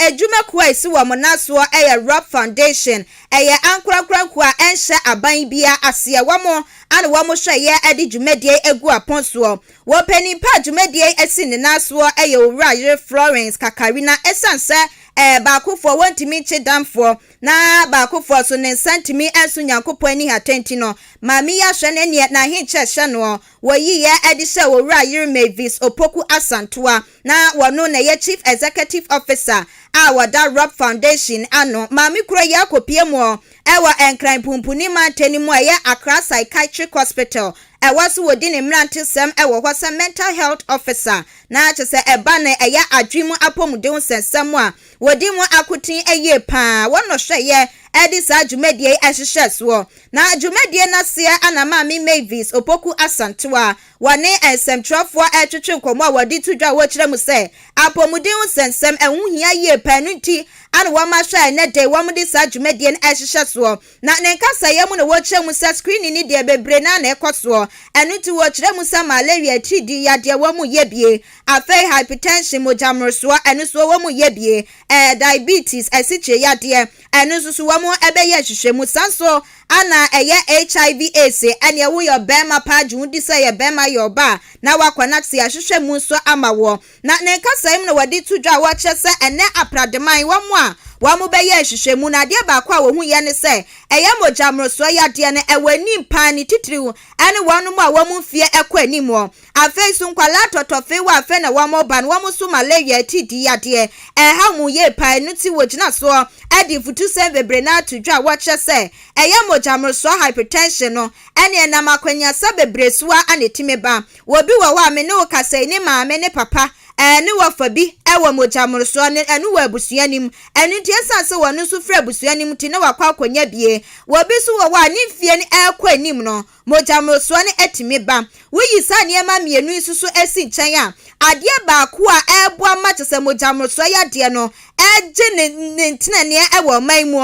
adwuma kuo a ɛsi wɔn nan soɔ ɛyɛ Rob Foundation, ɛyɛ ankorankora nkuo a ɛnhyɛ aban biara aseɛ, wɔn a na wɔn hwɛ yɛ ɛde dwumadie ɛgu apɔn soɔ. Wɔ panyin pa a dwumadie yi asi ne nan soɔ yɛ owura yere Florence Kakari na ɛsiane sɛ ɛɛ baakofoɔ wɔntumi nkye damfoɔ na baakofoɔ nso ne nsa ntumi nso Nyankopɔn ani hata nti no maame yi ahwɛ no ɛneɛ n'ahenkyɛ hyɛ noɔ wɔ yiiɛ ɛde hyɛ owura yere Mavis Opoku Asantewa Na wɔno na ɛyɛ Chief Executive Officer a wɔda Robb Foundation ano. Maame kuro yi akɔpue mu wɔ Nkran Punpuni mantan mu a ɛyɛ Accra Psychiatric Hospital. Ɛhɔ nso wɔdi ne mmerantesɛm wɔ hɔ sɛ Mental Health Officer. Na kyerɛ sɛ ɛba no ɛyɛ adwene mu apɔmuden ho nsɛnsɛm a wɔdi mu akoten yie pa ara. Wɔn na wɔhwɛeɛ de saa dwumadie yi hyehyɛɛ soɔ. Na dwumadie no aseɛ na Maame Mavis Opoku Asantewaa Wɔne nsɛmtwerɛfoɔ retwetwe nkɔmmɔ a wɔde to dwa a wɔkyerɛ mu sɛ apɔmuden ho nsɛnsɛm, ɛho hia yie paa, ɛno nti ana wɔma hwɛ a ɛnnɛ da yi wɔde saa dwumadie no rehyehyɛ soɔ. Na ne nkasaeɛ mu no wɔkyerɛ mu sɛ screening no deɛ bebree no ara na ɛkɔ soɔ, ɛno nti wɔkyerɛ mu sɛ malaria, atiridii yadeɛ wɔn reyɛ bie, afei hypertension, mogya mmorosoɔ, ɛno nso wɔn reyɛ bie, ɛɛ diabetes, asikyire yadeɛ. Ɛno nso so wɔbɛyɛ nhwehwɛmu. Saa nso na ɛyɛ HIV AIDS. Ɛneɛ woyɛ ɔbarima paa gye wo di sɛ ɔyɛ barima yɛ ɔbaa na woakɔ na te ahwehwɛ mu nso ama woɔ. Na ne nkasa yi mu na wɔde to dwa a wɔkyerɛ sɛ ɛnɛ aprademan wɔn a wɔbɛyɛ nhwehwɛmu no adeɛ baako a wɔhu yɛ ne sɛ ɛyɛ mogya mmorosoɔ yadeɛ no ɛwɔ anim paa ne titiriw ɛne wɔnom a wɔn mfeɛ ɛkɔ anim Afei nso, nkwadaa tɔtɔfee wɔ afei na wɔreba no, wɔn nso malaria ti di yadeɛ. Ɛhaw wɔn yie paa, ɛno nti wɔgyina soɔ de mfutusɛm bebree no ara to dwa a wɔkyerɛ sɛ ɛyɛ mogyamorosoɔ, hypertension, no. Ɛnneɛ ɛnam akwannuasa bebree so ara na ɛtumi ba. Obi wɔ hɔ a me ne wo kasa yi, ne maame ne papa ne wɔfa bi wɔ mogyamorosoɔ no, ɛno wɔ abusua no mu. Ɛno nti ɛsiane sɛ wɔn nso firi abusua no mu nti na wɔakɔ akɔnya bie. Obi nso wɔ hɔ a ne mfeɛ no rekɔ anim no, Mogya mmorosoɔ no atumi ba. Woyi saa nneɛma mmienu yi nso so si nkyɛn a, adeɛ baako a ɛreboa ma kyɛ sɛ mogya mmorosoɔ yadeɛ no gye ne ne nteneneɛ wɔ ɔman mu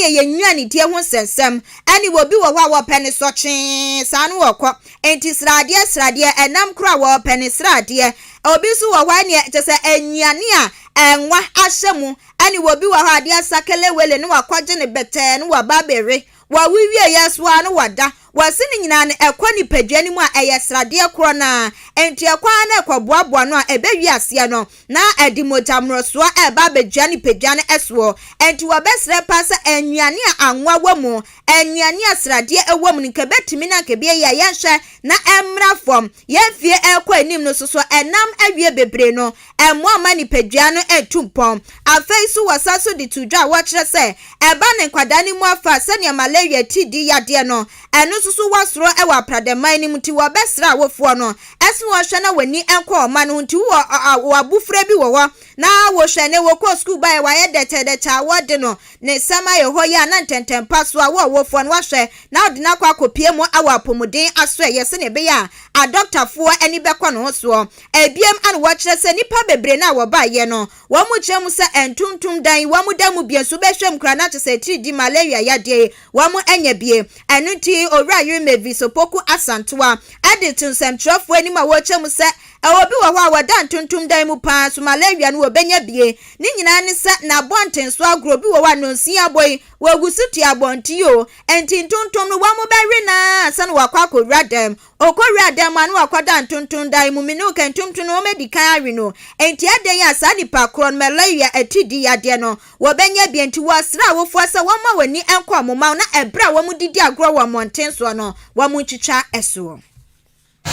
yɛ yɛn nnuanedie ho nsɛnsɛm. Ɛne obi wɔ hɔ a wɔpɛ ne sɔ twee saa no wɔkɔ. Enti sradeɛ sradeɛ, ɛnam koro a wɔpɛ ne sradeɛ. Obi nso wɔ hɔ ɛneɛ kyɛ sɛ nnuane a ɛnwa ahyɛ mu. Ɛne obi wɔ hɔ adeɛ asa kelewele na wakɔgye ne bɛtɛɛ na waba abɛwe. Wɔ wo wieɛ so ara no wɔda. Wɔse no nyinaa no ɛkɔ nipadua no mu a ɛyɛ sradeɛ korɔ no ara. Enti ɛkɔ ara na ɛkɔboaboa no a ɛbɛwie aseɛ no na ɛde mogya mmorosoɔ reba abɛgyina nipadua no soɔ. Enti wɔbɛsrɛ paa sɛ nnuane a anwa wɔ mu, nnuane a sradeɛ wɔ mu no nka ɛbɛtumi na nka ɛbɛyɛ yie a yɛnhwɛ na ɛmmra fam. yɛn mfeɛ ɛrekɔ anim no soso ɛnam awie bebree no ɛmmoa mma nipadua no ntu mpɔn. Afei nso wɔsan so de to dwa a wɔkyerɛ sɛ ɛba ne nkwadaa no mu afa sɛdeɛ malaria atiridii yadeɛ no ɛno nso so wɔ soro wɔ apradɛman no mu nti wɔbɛsrɛ awofoɔ no sɛ wɔnhwɛ na wɔn ani nkɔ wɔn mma no ho nti wowɔ abufra bi wɔ hɔ na wohwɛ ne wokɔɔ sukuu baeɛ wayɛ dɛkyɛɛdɛkyɛɛ a wɔde no Ne nsɛm a ɛhɔ yi a na ntɛntɛmpa so a wo ɔwofoɔ no wahwɛ na wode no akɔ akɔpue mu awɔ apɔmuden asoɛeɛ sɛdeɛ ɛbɛyɛ a adɔktafoɔ ani bɛkɔ ne ho soɔ. Ɛbiam a na wɔkyerɛ sɛ nnipa bebree no a wɔbaeɛ no wɔn kyerɛ mu sɛ ɛntontom dan wɔn da mu bio nso bɛhwɛ mu koraa na kyerɛ sɛ atiridii malaria yadeɛ yi wɔn anya bi. Ɛno nti Owura Yere Mavis Opoku Asantewa de to nsɛmtwerɛfoɔ anim a wɔkyerɛ mu sɛ Ɛwɔ bi wɔ hɔ a wɔda ntontom dan mu paa so malaria no wɔ bɛnya bie ne nyinaa ne sɛ na abɔnten so agorɔ bi wɔ hɔ a nonsin abɔ yi wɔ gu so tua abɔnten yi o ɛnti ntontom no wɔn mo bɛ we no aa ansa na wakɔ akɔ wura dan mu ɔkɔ wura dan mu a na wakɔ da ntontom dan mu me ne wo ka ntontom no wɔn adi kan awe no ɛnti adɛn yi a saa nipa korɔ no malaria ɛti di yadeɛ no wɔ bɛnya bie nti wɔ srɛ awofoɔ sɛ wɔn ma wɔn ani nkɔ wɔn ma no na ɛbrɛ a wɔn didi agorɔ wɔ mmɔnten soɔ no wɔn ntwitwa ɛsoɔ.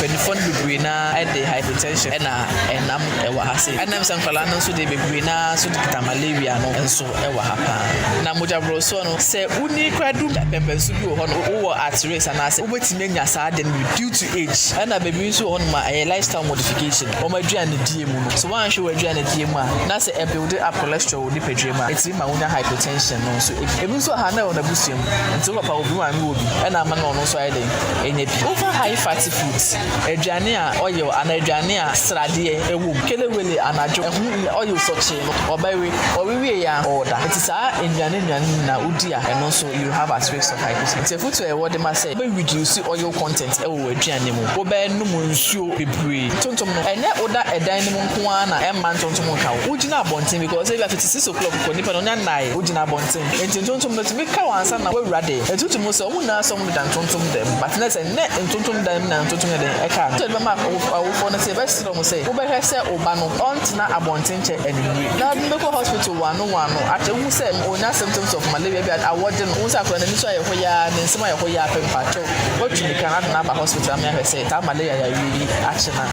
Mpanyinfoɔ no bebree no ara de hypertension ɛna ɛnam ɛwɔ ha sei. Ɛnam sɛ nkwadaa no nso deɛ bebree no ara nso de kita malaria no nso ɛwɔ ha paa. Na mogya borɔsoɔ no sɛ wonii koraa du mpɛmpɛnso bi wɔ hɔ no wowɔ at risk anaasɛ wobɛtumi anya saa ade no bi due to age. Ɛna baabi nso wɔ hɔ nom a ɛyɛ lifestyle modification wɔn aduanedie mu no. So woanhwɛ w'aduanedie mu a na sɛ ɛbuilde up cholesterol. wɔ nipadua mu a ɛtumi ma wonya hypertension no nso bi. Ebi nso wɔ ha na ɛwɔ n'abusua mu, nti wo papa wɔ bi maame wɔ bi ɛna ama na ɔno nso ayɛ dɛn anya bi. Wofa high fatty foods, aduane a oil anaa aduane a sradeɛ ɛwɔ mu, kelewele anadwo, ɛho nni oil sɔkyee no ɔbɛwe, ɔwe wieeɛ a ɔda. Nti saa nnuane nnuane no nyinaa wodi a ɛno nso you have at risk of hypertension. Nti afotuo a yɛwɔ de ma sɛ wobɛ reduce oil content ɛwɔ. w'aduane mu. Wobɛnom nsuo bebree. Tontom no, ɛnyɛ woda ɛdan no mu nko ara na ɛmma ntontom nka wo. Wogyina abɔnten because ebia fiti six o'clock kɔ, nipa no ɔnya nnaeɛ, wogyina abɔnten. Enti ntontom no tumi ka wo ansa na woawura dɛm. Ɛtutu mu sɛ wɔn nyinaa sɛ wɔdeda ntontom dan mu, but na sɛ ɛnyɛ ntontom dan mu na ntontom yɛ den ɛka no. Nti ɛde bɛma awofoɔ no sɛ yɛbɛsrɛ wɔn sɛ wobɛhwɛ sɛ wo ba no ɔntena abɔnten nkyɛ anwummere. Na wode no bɛkɔ hospital wɔano wɔano akyɛ wohu sɛ ɔnya symptoms of malaria, ebia awɔ de no, wohu sɛ akwadaa no ani so ayɛ hoyaa, ne nsam ayɛ hoyaa pɛ, mpakyɛw. Watumi kan ada no aba hospital ama yɛahwɛ sɛ taa malaria yareɛ yi akye no a.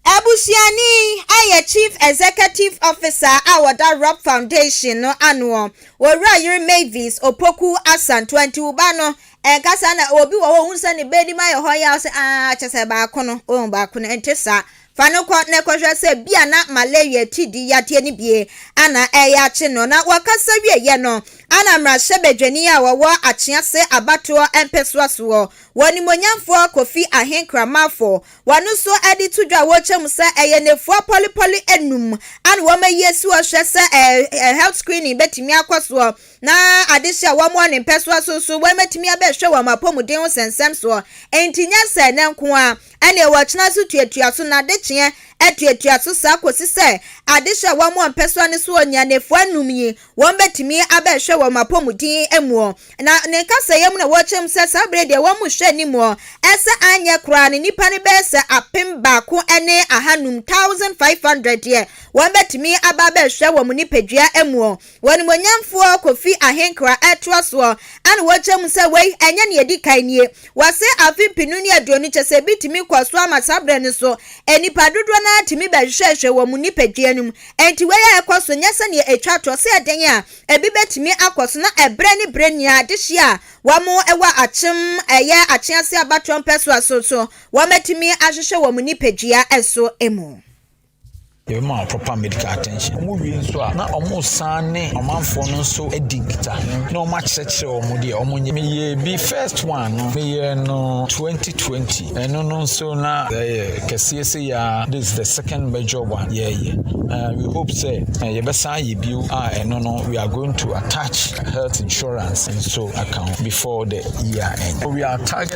Abusuani yi yɛ Chief Executive Officer a ɔda Rob Foundation no anoɔ, ɔwura yere Mavis Opoku Asantewaa. Nti wo ba no nkasa na obi wɔ hɔ a ohunu sɛ ne ba anim ayɛ hɔ yaw sɛ, aah kyɛ sɛ baako no, wohu baako no, ɛnte saa. Fa no kɔ na kɔhwɛ sɛ bia na malaria ti di yadeɛ no bie ana ɛyɛ akye no. Na wɔkasa wieeɛ no ana mmarahyɛbadwani a ɔwɔ Akyease abatoɔ mpɛsoa soɔ wɔ Nimonyamfoɔ Kofi Ahenkramanfo wɔn nso de to dwa a wɔrekyɛ mu sɛ ɛyɛ nnafua pɔlepɔle anum ana wɔn ayi asi hɔ hwɛ sɛ ɛɛ health screening bɛtumi akɔ soɔ na adehye a wɔn wɔ ne mpɛsoa so nso wɔn bɛtumi abɛhwɛ wɔn apɔmuden ho sɛnsɛm soɔ. Enti nyɛ sɛ ɛnɛ nko ara Ɛnneɛ wɔtena so tuatua so, na adekyeɛ tuatua so saa kɔsi sɛ adehye a wɔn a mpɛsoa no soɔ nni anafua anum yi, wɔn bɛtumi abɛhwɛ wɔn apɔmuden muɔ. Na ne nkasɛeɛ mu na wɔkyerɛ mu sɛ saa berɛ deɛ wɔn hwɛ animuɔ sɛ anyɛ koraa no nnipa no bɛyɛ sɛ apem baako ne ahanum, 1,500, deɛ wɔn bɛtumi aba abɛhwɛ wɔn nipadua muɔ. W'animuonyamfoɔ Kofi ahenkra ɛtoa soɔ a na wɔkyerɛ mu sɛ wei ɛnyɛ nea ɛdi kan nie. Wɔse afe mpenu ne aduonu kyɛ sɛ ebi tumi kɔ so ama saa berɛ no so nnipa dodoɔ no ara tumi bɛhwehwɛhwehwɛ wɔn nnipadua no mu. Enti wei a ɛkɔ so nyɛ sɛdeɛ ɛtwa toɔ sɛ ɛdɛn a ebi bɛtumi akɔ so na ɛberɛ ne berɛ nyinaa adehyeɛ a wɔwɔ akyem ɛyɛ akyeaseɛ abatoɔ mpɛsoa so nso wɔatumi ahwehwɛ wɔn nnipadua so mu. Yɛbɛma wɔn proper medical attention. Wɔn wie nso a, na wɔn san ne ɔmanfoɔ no nso di nkitaho na wɔn akyerɛkyerɛ wɔn deɛ wɔn nyɛ. Meyɛ bi first one no, meyɛ no 2020. Ɛno no nso na ɛyɛ kɛseɛ se ya. This is the second major one yɛyɛ. Uh, we hope sɛ uh, yɛbɛsan yɛ bio a ɛno no we are going to attach health insurance nso aka ho before the year end. So we are targeting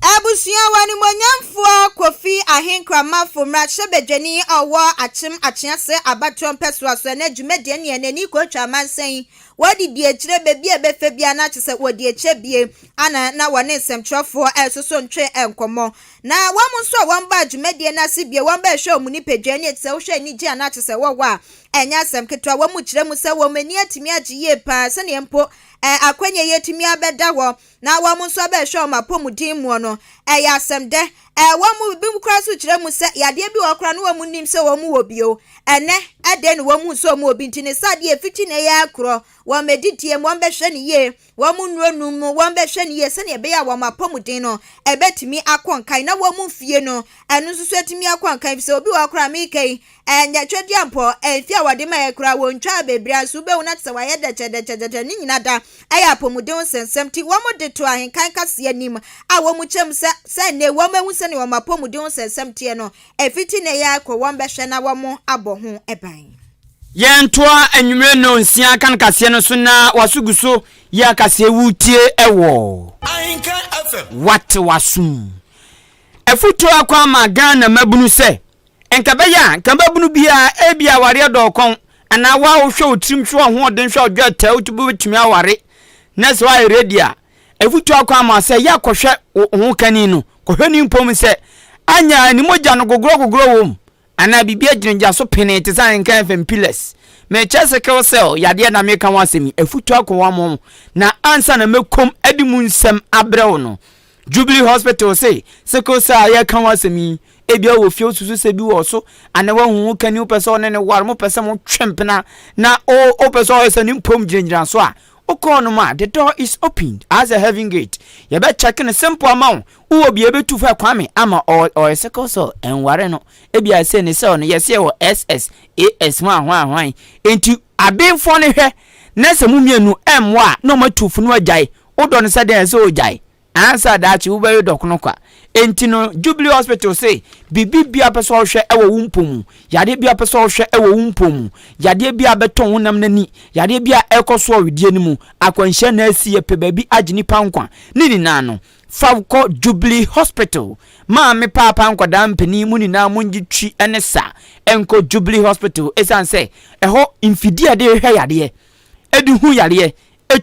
Abusua wɔ animuonyamfoɔ Kofi Ahenkramafo mmarahyɛbadwani a ɔwɔ Akyem Akyease abatoɔ mpɛsoa so ɛnɛ dwumadie ne ɛnɛ ni kɔtwa amansan yi wɔde di akyire baabi a ɛbɛfɛ biara na kyɛ sɛ wɔde akyɛ bie ana na wɔne nsɛmtwerɛfoɔ ɛresoso ntwe nkɔmmɔ na wɔn nso a wɔn baa dwumadie no ase bie wɔn bɛhwɛ wɔn nipadua ani ɛte sɛ wohwɛ anigye a na kyɛ sɛ wɔwɔ a ɛnyɛ asɛm ketewa wɔn mu kyerɛ mu sɛ wɔn ani atumi agye yie paa sɛdeɛ mpo ɛɛ akwanya yi atumi abɛda hɔ na wɔn nso bɛhwɛ wɔn apɔmuden muɔ no, ɛyɛ asɛm dɛ? Ɛɛ, wɔn mu binom koraa nso kyerɛ mu sɛ yadeɛ bi wɔ hɔ koraa na wɔn nnim sɛ wɔn wɔ bio. Ɛnnɛ, ɛdɛn na wɔhu sɛ wɔn wɔ bi nti? Ne sɛ adeɛ a ɛfiti nnɛ yi ara korɔ, wɔn adidie mu, wɔbɛhwɛ no yie, wɔn nnuro nom mu, wɔbɛhwɛ no yie sɛdeɛ ɛbɛyɛ a wɔn apɔmuden no bɛtumi akɔ nkan, na wɔn mfie no, ɛno nso so atumi akɔ nkan, efisɛ obi wɔ hɔ koraa a, meka yi, Ɛnyɛ twedeɛ mpo, mfeɛ a wɔde maeɛ koraa wɔntwaa baabi ara, nso wobɛhu no te sɛ wɔayɛ dɛkyɛdɛkyɛdɛkyɛ, ne nyinaa da yɛ apɔmuden nsɛnsɛm, nti wɔde too ahenkan kaseɛ anim a wɔkyɛm sɛ sɛ nnɛ wɔahu sɛdeɛ wɔn apɔmuden nsɛnsɛm teɛ no, ɛfiti nnɛ yi ara kɔ wɔbɛhwɛ na wɔabɔ ho ban. Yɛntoa anwummerɛ nnɔnsia kan kaseɛ no so na waso gu so yɛ akaseɛ wotie wɔ Ahenkan FM. Wate w'asom. Afutuo akɔ ama Ghana mmabunu sɛ. Nka ɛbɛyɛ a nka mmabunu bi a ebia awareɛ dɔɔ kɔn anaa wo a wohwɛ wo tirim hwɛ w'ahoɔden hwɛ wo dwɛtɛɛ wotumi bɛbɛtumi aware na sɛ woayɛ ready a afutuo akɔ ama sɛ yɛ kɔhwɛ wo ho kani no kɔhwɛ ne mpom sɛ anya ne mogya no gogorɔ gogorɔ wɔ mu anaa biribi agyinagya so penee te sɛ nka fm pillars mekyɛ sickle cell yadeɛ na meka ho asɛm yi afutuo akɔ wɔn na ansa na mɛkom adi mu nsɛm abrɛ wo no Jubilee Hospital se sickle cell a yɛreka ho asɛm yi, ebia wɔ fie wosusu sɛ bi wɔ so, anaa wahu wo kani wopɛ sɛ ɔne ne ware, mopɛ sɛ motwe mpena, na wopɛ sɛ ɔyɛ sɛ ne mpom gyinagyina so a, wokɔ ɔnom a, the door is opened as a heaven gate. Yɛbɛkyɛke no simple ama wo. Wowɔ bia yɛbɛtu fa Kwame ama ɔyɛ sickle cell, ɛnware no. Ebia sɛ ne cell no yɛsɛ yɛwɔ SS, AS, hwan hwan hwan. Enti abenfoɔ no hwɛ na sɛ mo mmienu ɛmmoa a na ɔmatu funu agyae. Wodɔ no sɛ dɛn a sɛ ogyae ansa daakye wobɛwe dɔkono kwa. Enti no Jubilee Hospital se biribi biara a wopɛ sɛ ɔhwɛ wɔ wo mpɔ mu, yadeɛ biara a wopɛ sɛ ɔhwɛ wɔ wo mpɔ mu, yadeɛ biara a ɛbɛtɔn wo nam no ani, yadeɛ biara a ɛrekɔ soɔ wedeɛ no mu, akwanhyia na asi yɛpɛ baabi agye nipa nkwa. Ne nyinaa no, fa wo kɔ Jubilee Hospital. Maame paapa nkwadaa mpanin mo nyinaa mongye twi ne sa nkɔ Jubilee Hospital ɛsiane sɛ ɛhɔ mfidie a yɛde hwɛ yadeɛ, de hu yadeɛ,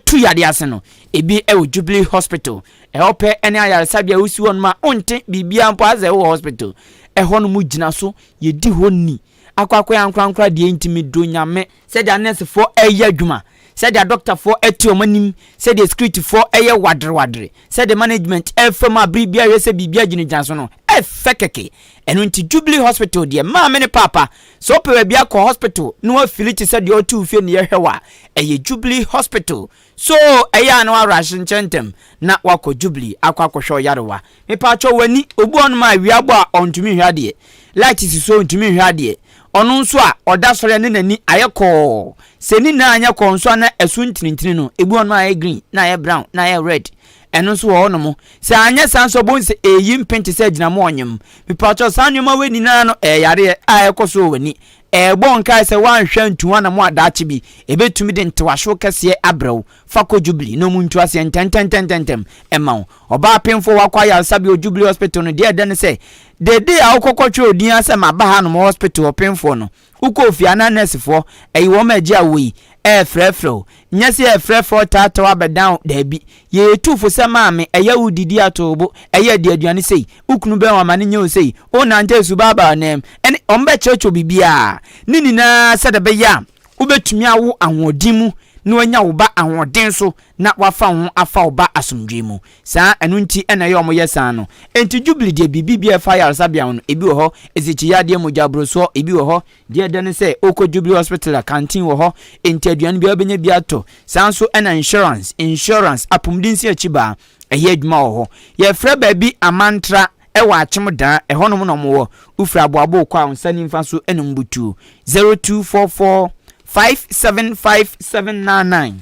tu yadeɛ ase no, ebi wɔ Jubilee Hospital, ɛhɔ pɛ ne ayaresabea a wosi hɔ nom a wonte biribiara mpo asɛ wowɔ hospital. Ɛhɔ nom gyina so, yɛdi hɔ ni, akwakoraa ankorankora deɛ ntumi duro Nyame. Sɛdeɛ nɛɛsefoɔ reyɛ adwuma, sɛdeɛ adɔktafoɔ te wɔn anim, sɛdeɛ sikiritifoɔ yɛ waderewadere, sɛdeɛ management fa mu a bere biara hwɛ sɛ biribiara gyinagyina so no, ɛfɛ kɛkɛ. Ɛno nti Jubilee Hospital deɛ, maame ne paapa, Sɛ wopɛ baabi akɔ hospital na wafili te sɛ deɛ ɔte wo fie na yɛhwɛ wo a, ɛyɛ Jubilee Hospital. So ɛyɛ a na woarush nkyɛ ntɛm na woakɔ Jubilee akɔ akɔhwɛ wo yarewa? Mepaakyɛw w'ani, obi wɔ hɔnom a awia abɔ a ɔntumi nhwɛ adeɛ, light si so a ɔntumi nhwɛ adeɛ, ɔno nso a ɔda sɔre a na n'ani ayɛ kɔɔ. Sɛ ne nyinaa anyɛ kɔɔ nso a na ɛso ntinintini no, ebi wɔ hɔnom a ayɛ green, na ayɛ brown, na ayɛ red. Ɛno nso wɔ hɔ nom. Sɛ anyɛ saa nso a wobɛhu sɛ ɛreyi mpen te sɛ agyinamoa a ɔnyem. Mepakyɛw, saa nneɛma wei nyinaa no ɛyɛ yareɛ a ɛkɔ so wɔ w'ani. Ɛrebɔ wo nkae sɛ woanhwɛ antu ho anammɔn a daakye bi, ɛbɛtumi de ntewahyew kɛseɛ abrɛ wo. Fa kɔ Jubilee na wɔntu aseɛ ntɛntɛntɛntɛm mma wo. Ɔbaa apemfoɔ wakɔ ayaresabea wɔ Jubilee Hospital no, deɛ ɛdɛ ne sɛ, dede a wokɔ kɔtwerɛ wo din ara sɛ maba ha nom hospital ɔpemfoɔ no, Wokɔɔ fie a na nɛɛsefoɔ, ɛyi wɔn ma agye awoɔ yi, ɛrefrɛfrɛ wo. Nyɛ sɛ yɛrefrɛfrɛ wo taataw abɛdan wo, daabi. Yɛyɛ atuufo sɛ maame, ɛyɛ wo didi atow bo, ɛyɛ adi aduane sei, wo kunu bɛn wɔn amane nyɛ wo sei, worenante asu baabaa ɔnam, ɛne wɔbɛkyerɛkyerɛ wo biribiara, ne nyinaa sɛdeɛ ɛbɛyɛ a wobɛtumi awo ahoɔden mu na woanya wo ba ahoɔden so na wɔafa ho afa wo ba asomdwoe mu. Saa, ɛno nti na ɛyɛ a wɔyɛ saa no. Enti Jubilee deɛ biribi biara a ɛfa ayaresabea ho no, ebi wɔ hɔ, nsikyiyadeɛ, mogyaborosoɔ, ebi wɔ hɔ, deɛ ɛdɛ ne sɛ, wokɔ Jubilee Hospital a, canteen wɔ hɔ, enti aduane biara a wobɛnya biara tɔ. Saa nso na insurance, insurance, apomdensi akyibaa, ɛyɛ adwuma wɔ hɔ. Yɛfrɛ baabi Amantra, ɛwɔ Akyem Daa, ɛhɔnom na wɔwɔ. Wofiri Aboabo kɔ a, wo nsa nimfa so na wɔbutuo, 0244 575 799.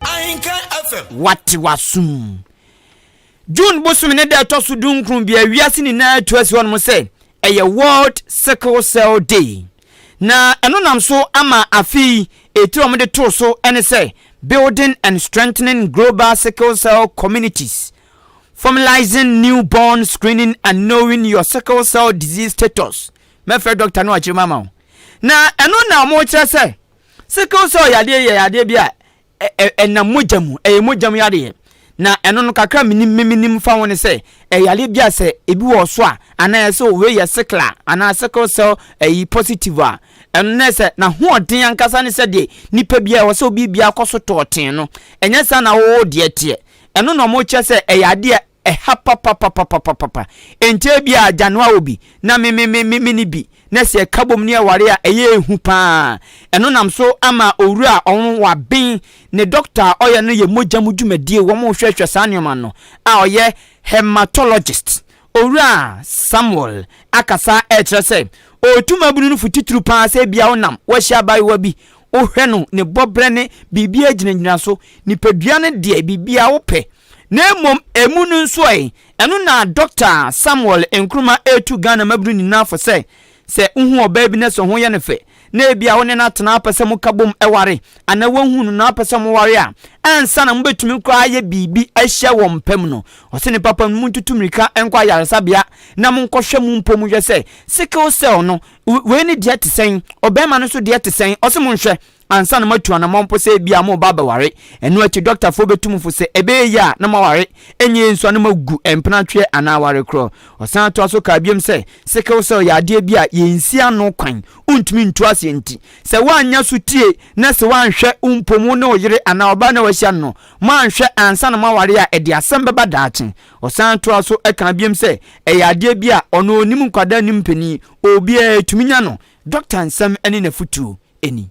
Ahenkan FM. Wate w'asom. June bosome ne da ɛtɔ so dunkron bia wiase nyinaa tu asi hɔnom sɛ ɛyɛ World Sickle Cell Day. Na ɛno nam so ama afe yi etiri a wɔde too so ne sɛ Building and Strengthening Global Sickle Cell Communities, Formalizing Newborn Screening and Knowing Your Sickle Cell Disease Status. Mɛfrɛ dɔkta no akyerɛ mu ama wo. Na ɛno na wɔkyerɛ sɛ Sickle cell yadeɛ yɛ yadeɛ bi a ɛnam mogya mu, ɛyɛ mogya mu yadeɛ. Na ɛno no kakra menim memenim fa ho ne sɛ ɛyɛ yadeɛ bi a sɛ ebi wɔ so a anaa ɛsɛ o wei yɛ sickle a anaa sickle cell ɛyi positive a ɛno ne sɛ n'ahoɔden ankasa ne sɛ deɛ nipa bi a ɛwɔ sɛ obi bi akɔ so tɔɔten no ɛnyɛ saa na wɔwɔ deɛ teɛ ɛno na wɔkyerɛ sɛ ɛyɛ adeɛ Ɛha papapapapapapa. Enti ebia Agyanoa wɔ bi, na me me me me menni bi, na sɛ ɛka bom ne aware a, ɛyɛ hu pa ara. Ɛno nam so ama owura a ɔwɔ waben ne dɔkta a ɔyɛ no yɛ mogya mu dwumadie, wɔhwɛhwɛ saa nneɛma no, a ɔyɛ hematologist, Owura Samuel akasa rekyerɛ sɛ ɔretu mmabunu no fo titiriw pa ara sɛ ebia wonam, woahyia abaayewa bi, wohwɛ no, ne bɔberɛ ne biribiara gyinagyina so, nipadua no deɛ, biribiara wopɛ, Na mmom ɛmu no nso ɛ, ɛno na Dɔkta Samuel Nkrumah retu Ghana mmabunu nyinaa fo sɛ, sɛ wohu ɔbaa bi na sɛ ho yɛ no fɛ, na ebia wo ne no atena apɛ sɛ moka bom ware, anaa woahu no na apɛ sɛ moware a, ansa na mobɛtumi koraa ayɛ biribi ahyia wɔ mpa mu no, ɔse ne papa no montutu mmirika nkɔ ayaresabea na monkɔhwɛ mo mpɔ mu hwɛ sɛ sickle cell no, wei ne deɛ te sɛn, ɔbarima no nso deɛ te sɛn, ɔse monhwɛ. ansa na moatu anammɔn mpo sɛ ebia mo ba bɛware. Ɛno akyi, dɔktafoɔ bɛtu mo fo sɛ ɛbɛyɛ yie a na moaware, ɛnyɛ yie nso a na moagu mpenatweɛ anaa aware korɔ. Ɔsan toa so kaa biom sɛ, Sickle cell yɛ adeɛ bi a yɛnsi ano kwan, wontumi ntu aseɛ nti, sɛ woannya sotie na sɛ woanhwɛ wo mpom wo ne wo yere anaa ɔbaa no a wahyia no no, moanhwɛ ansa na moaware a ɛde asɛm bɛba daakye. Ɔsan toa so kaa biom sɛ, Ɛyɛ adeɛ bi a ɔno ɔnnim nkwadaa nnim mpanin, obiara tumi nya no. Dɔkta nsɛm ne n'afotuo. ani.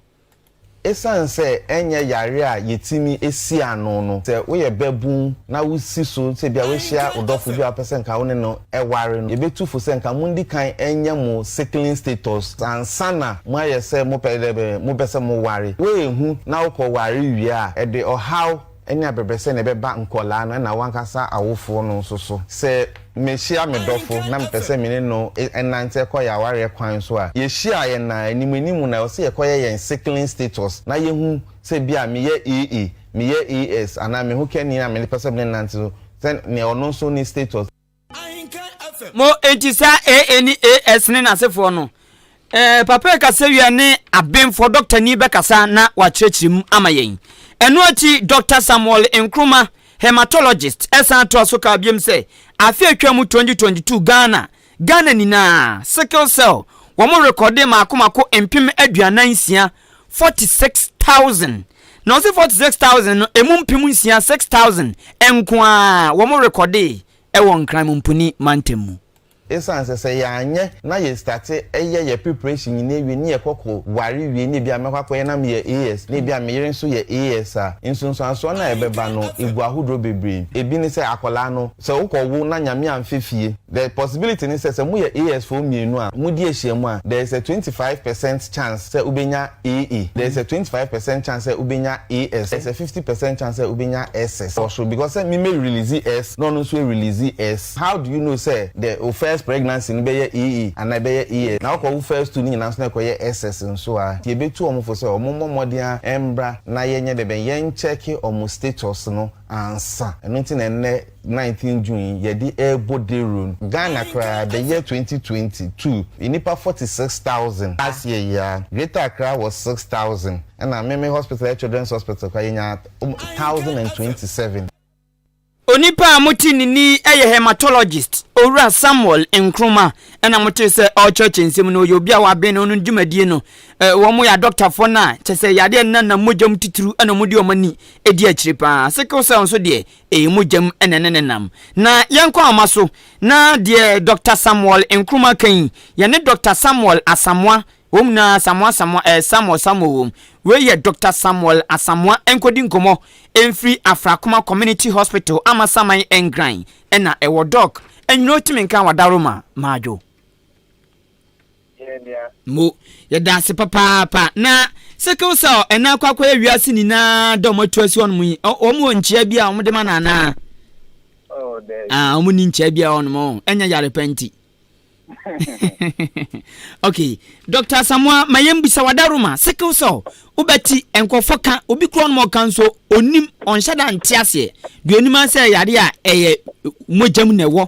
Esiane sɛ ɛnyɛ yare a yetumi si ano no, sɛ woyɛ babun na wusi so sɛ ebia woahyia wo dɔfo bi a wopɛ sɛ anka wo ne no ware no, yebetu fo sɛ anka mundi kan nyɛ mo sickling status ansa na moayɛ sɛ mopɛ dɛ mopɛ sɛ moware. Woanhu na wokɔware wie a, ɛde ɔhaw Ɛne abɛbrɛsɛ na ɛbɛba nkwadaa no ɛna w'ankasa awofoɔ no nso so. Sɛ mehyia me dɔfo na mepɛ sɛ me ne no nante kɔ yɛn awareɛ kwan so a, yɛhyia a, yɛnam anim anim na ɛwɔ sɛ yɛkɔyɛ yɛn sickling status na yɛhu sɛ bi a meyɛ AA, meyɛ AS anaa me ho kani a mepɛ sɛ me ne no nante so sɛ nea ɔno nso ne status. Mo enti saa AA ne AS ne n'asefoɔ no, eh, Papa yi kasawia ne abenfoɔ dɔktani bɛkasa na wakyerɛkyerɛ mu ama yɛn. Ɛno akyi, Dɔkta Samuel Nkrumah, hematologist, ɛsan toa so kaa biom sɛ, afe a atwa mu 2022 Ghana, Ghana nyinaa, sickle cell, wɔrekɔde mmaako mmaako mpem aduanan nsia, 46,000, Na ɔse 40 six thousand no emu mpem nsia six thousand nko ara wɔn rekɔdee ɛwɔ Nkran Mumpuni mantam mu. Esan sɛ sɛ yanyɛ na yɛ starte ɛyɛ yɛ preparation nyina ewie ne yɛ kɔ kɔ ware wie na ebia mɛkɔ akɔyɛ na meyɛ AS na ebia meyere nso yɛ AS a nsunsuansoɔ no a ɛbɛba no egu ahodoɔ bebree ebi ne sɛ akɔlaa no sɛ wokɔ wo na Nyame anfɛ fie The possibility ne sɛ, sɛ mo yɛ AS foɔ mmienu a mo di ahyia mu a, there is a twenty five percent chance sɛ wo bɛ nya AE, there is a twenty five percent chance sɛ wo bɛ nya AS, there is a fifty percent chance sɛ wo bɛ nya SS wɔ soro because sɛ me mɛ release S na ɔno nso a release S, how do you know sɛ the wo first pregnancy no bɛ yɛ AE anaa ɛbɛ yɛ AS, na wo kɔ wo first two no nyinaa nso na ɛkɔ yɛ SS nso a, nti yɛ bɛ tu wɔn fo sɛ wɔn mmɔ mmɔden ara mbra na yɛ nyɛ dɛbɛn, yɛn check wɔn status no. ansa. Ɛno nti na ɛnnɛ nineteen June yi yɛde rebɔ dawuro no. Ghana koraa the year twenty twenty two nnipa forty six thousand last year yi ara Greater Accra wɔ six thousand ɛna me me hospital yɛ Children's Hospital koraa yɛnya thousand and twenty seven. Onipa a mote ne nne yi yɛ Haematologist Owura Samuel Nkrumah ɛna motee sɛ ɔrekyerɛkyerɛ nsɛm no. Ɔyɛ obi a waben no no dwumadie no. Wɔyɛ adɔktafoɔ no a kyerɛ sɛ yadeɛ a ɛnenanam mogya mu titiriw na wɔde wɔn ani Ɛdi akyire pa ara, sickle cell nso deɛ, ɛyɛ mogya mu na ɛne no nam. Na yɛnkɔ ahoma so na deɛ Dɔkta Samuel Nkrumah ka yi, yɛne Dɔkta Samuel Asamoah, wom na Asamoah Asamoah, ɛɛ Samuel Samuel wom, wei yɛ Dɔkta Samuel Asamoah, nkɔdi nkɔmmɔ mfiri Afrakoma Community Hospital, Amasaman Ngran na ɛwɔ. Dɔk. Anwuno Timinka Wadaworo ma, Madwo. Yɛn nua. Mo. Yɛda ase papaapa. Na sickle cell ɛna akɔ akɔyɛ wiase nyinaa dɛ ɔmo atu asi hɔnom yi, ɔmo wɔ nkyia bi a ɔmo de ma no anaa? Oh, daabi. Ah, ɔmo ni nkyia bi a ɔnom ɔn, oh, ɛnyɛ yare pa nti. okay, Dr. Asamoah, ma yɛn bisa wada Roma, sickle cell, wobɛti nkurɔfoɔ ka, obi kura ɔnom ɔka nso, onim, ɔnhyɛ da nte aseɛ, deɛ onim asɛ yare a ɛyɛ mogyam na ɛwɔ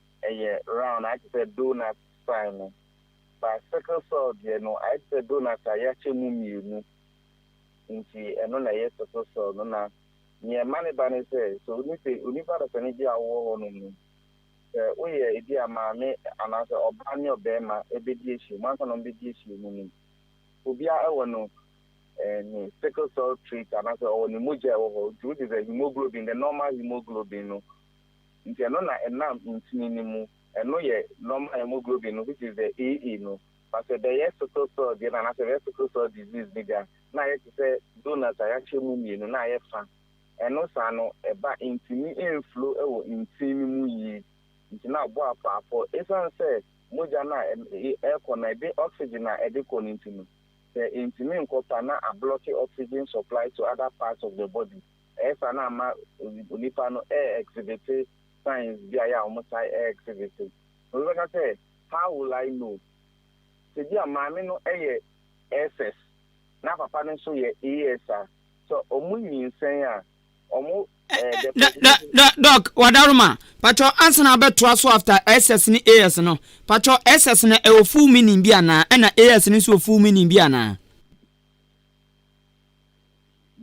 ɛyɛ round ayɛ te sɛ donut sign no but sickle cell deɛ no ayɛ te sɛ donut a yɛakyɛ mu mmienu nti ɛno na ɛyɛ sickle cell no na neɛ ɛma no ba ne sɛ sɛ onipa onipa dasani bi a wowɔ hɔ nom no sɛ woyɛ ebi a maame anaasɛ ɔbaa ne ɔbarima ɛbɛdi ahyia mu ansa na ɔmbɛdi ahyia mu no obiara ɛwɔ no ne sickle cell trait anaasɛ ɔwɔ ne mogya ɛwɔ hɔ nti which is a hemoglobin the normal hemoglobin no nti ɛno na ɛnam ntini no mu, ɛno yɛ normal hemoglobin no which is the AA no, but sɛ bɛyɛ sickle cell deɛ no anaa sɛ bɛyɛ sickle cell disease no deɛ a na ayɛ te sɛ donut a yɛakyɛ mu mmienu na ayɛ fa, ɛno saa no ɛba ntini ɛnflow wɔ ntin no mu yie nti na abɔ apoapɔ ɛsiane sɛ mogya no a ɛrekɔ no ɛde oxygen a ɛde kɔ no nti no sɛ ɛntumi nkɔ pa na ablɔke oxygen supply to other parts of the body. Ɛyɛ saa na ama onipa no ɛɛ exhibite signs bi a ɛyɛ a wɔn taa ɛɛ exhibite. Na obi bɛka sɛ, how will I know? Sɛ bi a maame no ɛyɛ SS na papa no nso yɛ AS a, sɛ wɔn nyinsɛn a, wɔn ɛɛ the presentation. Dɔ, dɔ, Doc, Wadaroma, pakyɛw ansa na abɛtoa so after SS ne AS no, pakyɛw SS no ɛwɔ full meaning bi anaa ɛna AS no nso wɔ full meaning bi anaa?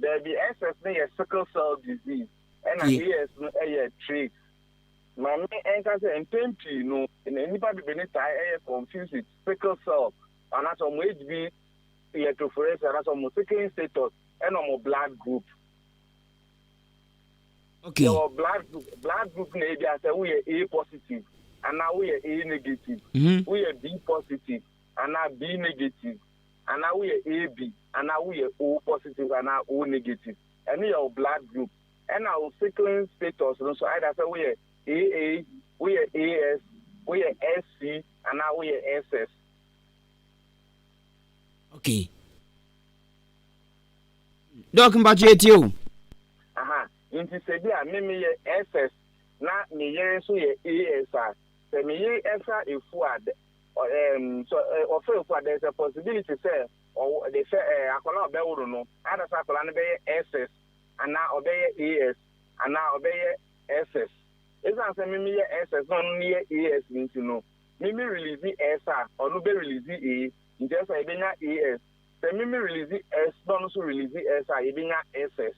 Dabi, SS no yɛ sickle cell disease, ɛna AS no yɛ trait. Ma me nka sɛ mpɛn pii no, nnipa bebreni taa yɛ confused with sickle cell anaasɛ wɔn HB electrophoresis anaasɛ wɔn sickling status ɛna wɔn blood group. Okay. Yɛwɔ blood group, blood group na ebi asɛ woyɛ A positive anaa woyɛ A negative, mm -hmm. woyɛ B positive anaa B negative. anaa woyɛ AB anaa woyɛ O positive anaa O negative. Ɛno yɛ wo blood group. Ɛna wo sickling status no nso, either sɛ woyɛ AA, woyɛ AS, woyɛ SC anaa woyɛ SS. Okay. Doc mpacho etie o. Aha, nti sɛ bi a me meyɛ SS na me yere nso yɛ AS a, sɛ me yere ɛsa efu a, Um, so eh, ɔfɛ nkwa, there is a possibility sɛ ɔwɔ de sɛ eh, akwadaa a ɔbɛworo no, ada sɛ akwadaa no bɛyɛ SS anaa ɔbɛyɛ AS anaa ɔbɛyɛ SS. Esiane sɛ mimi yɛ SS na ɔno no yɛ AS nti no, mimi release S a, ɔno bɛ release A, nti ɛsɛ yɛbɛnya AS. Sɛ mimi release S na ɔno nso release S a, yɛbɛnya SS.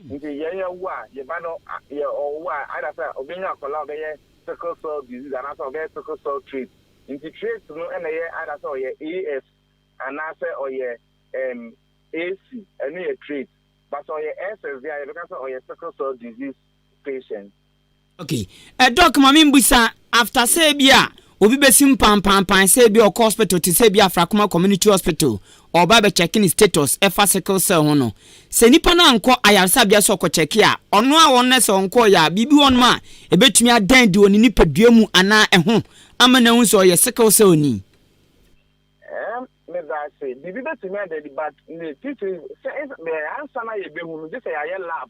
Nti yɛn yɛ wo a yɛ ba no yɛ ɔwo a either sɛ ɔbɛ nya akɔla a ɔbɛ yɛ sickle cell disease anaa sɛ ɔbɛ yɛ sickle cell trait nti trait no ɛna yɛ either sɛ ɔyɛ AS anaa sɛ ɔyɛ ɛm AC ɛno yɛ trait but sɛ ɔyɛ SS deɛ a yɛbɛka sɛ ɔyɛ sickle cell disease patient. Okay eh, doc ma me mbusa after sɛ ebi a obi bɛsim pampampan sɛ ebi ɔkɔ hospital te sɛ ebi afrakoma community hospital ɔba bɛ check ne status ɛfa sickle cell ho no sɛ nipa no ankɔ ayaresabea sɛ ɔkɔ check a ɔno a wɔn sɛ ɔnkɔ yɛ a biribi wɔn a ebetumi adan di wɔ ne nipadua mu anaa ɛho ama na ehu sɛ ɔyɛ sickle cell ni. ɛɛ ne da ase biribi betumi adan di but ne titi sɛ ɛɛ ansa na yɛ behu no gye sɛ yɛayɛ lab.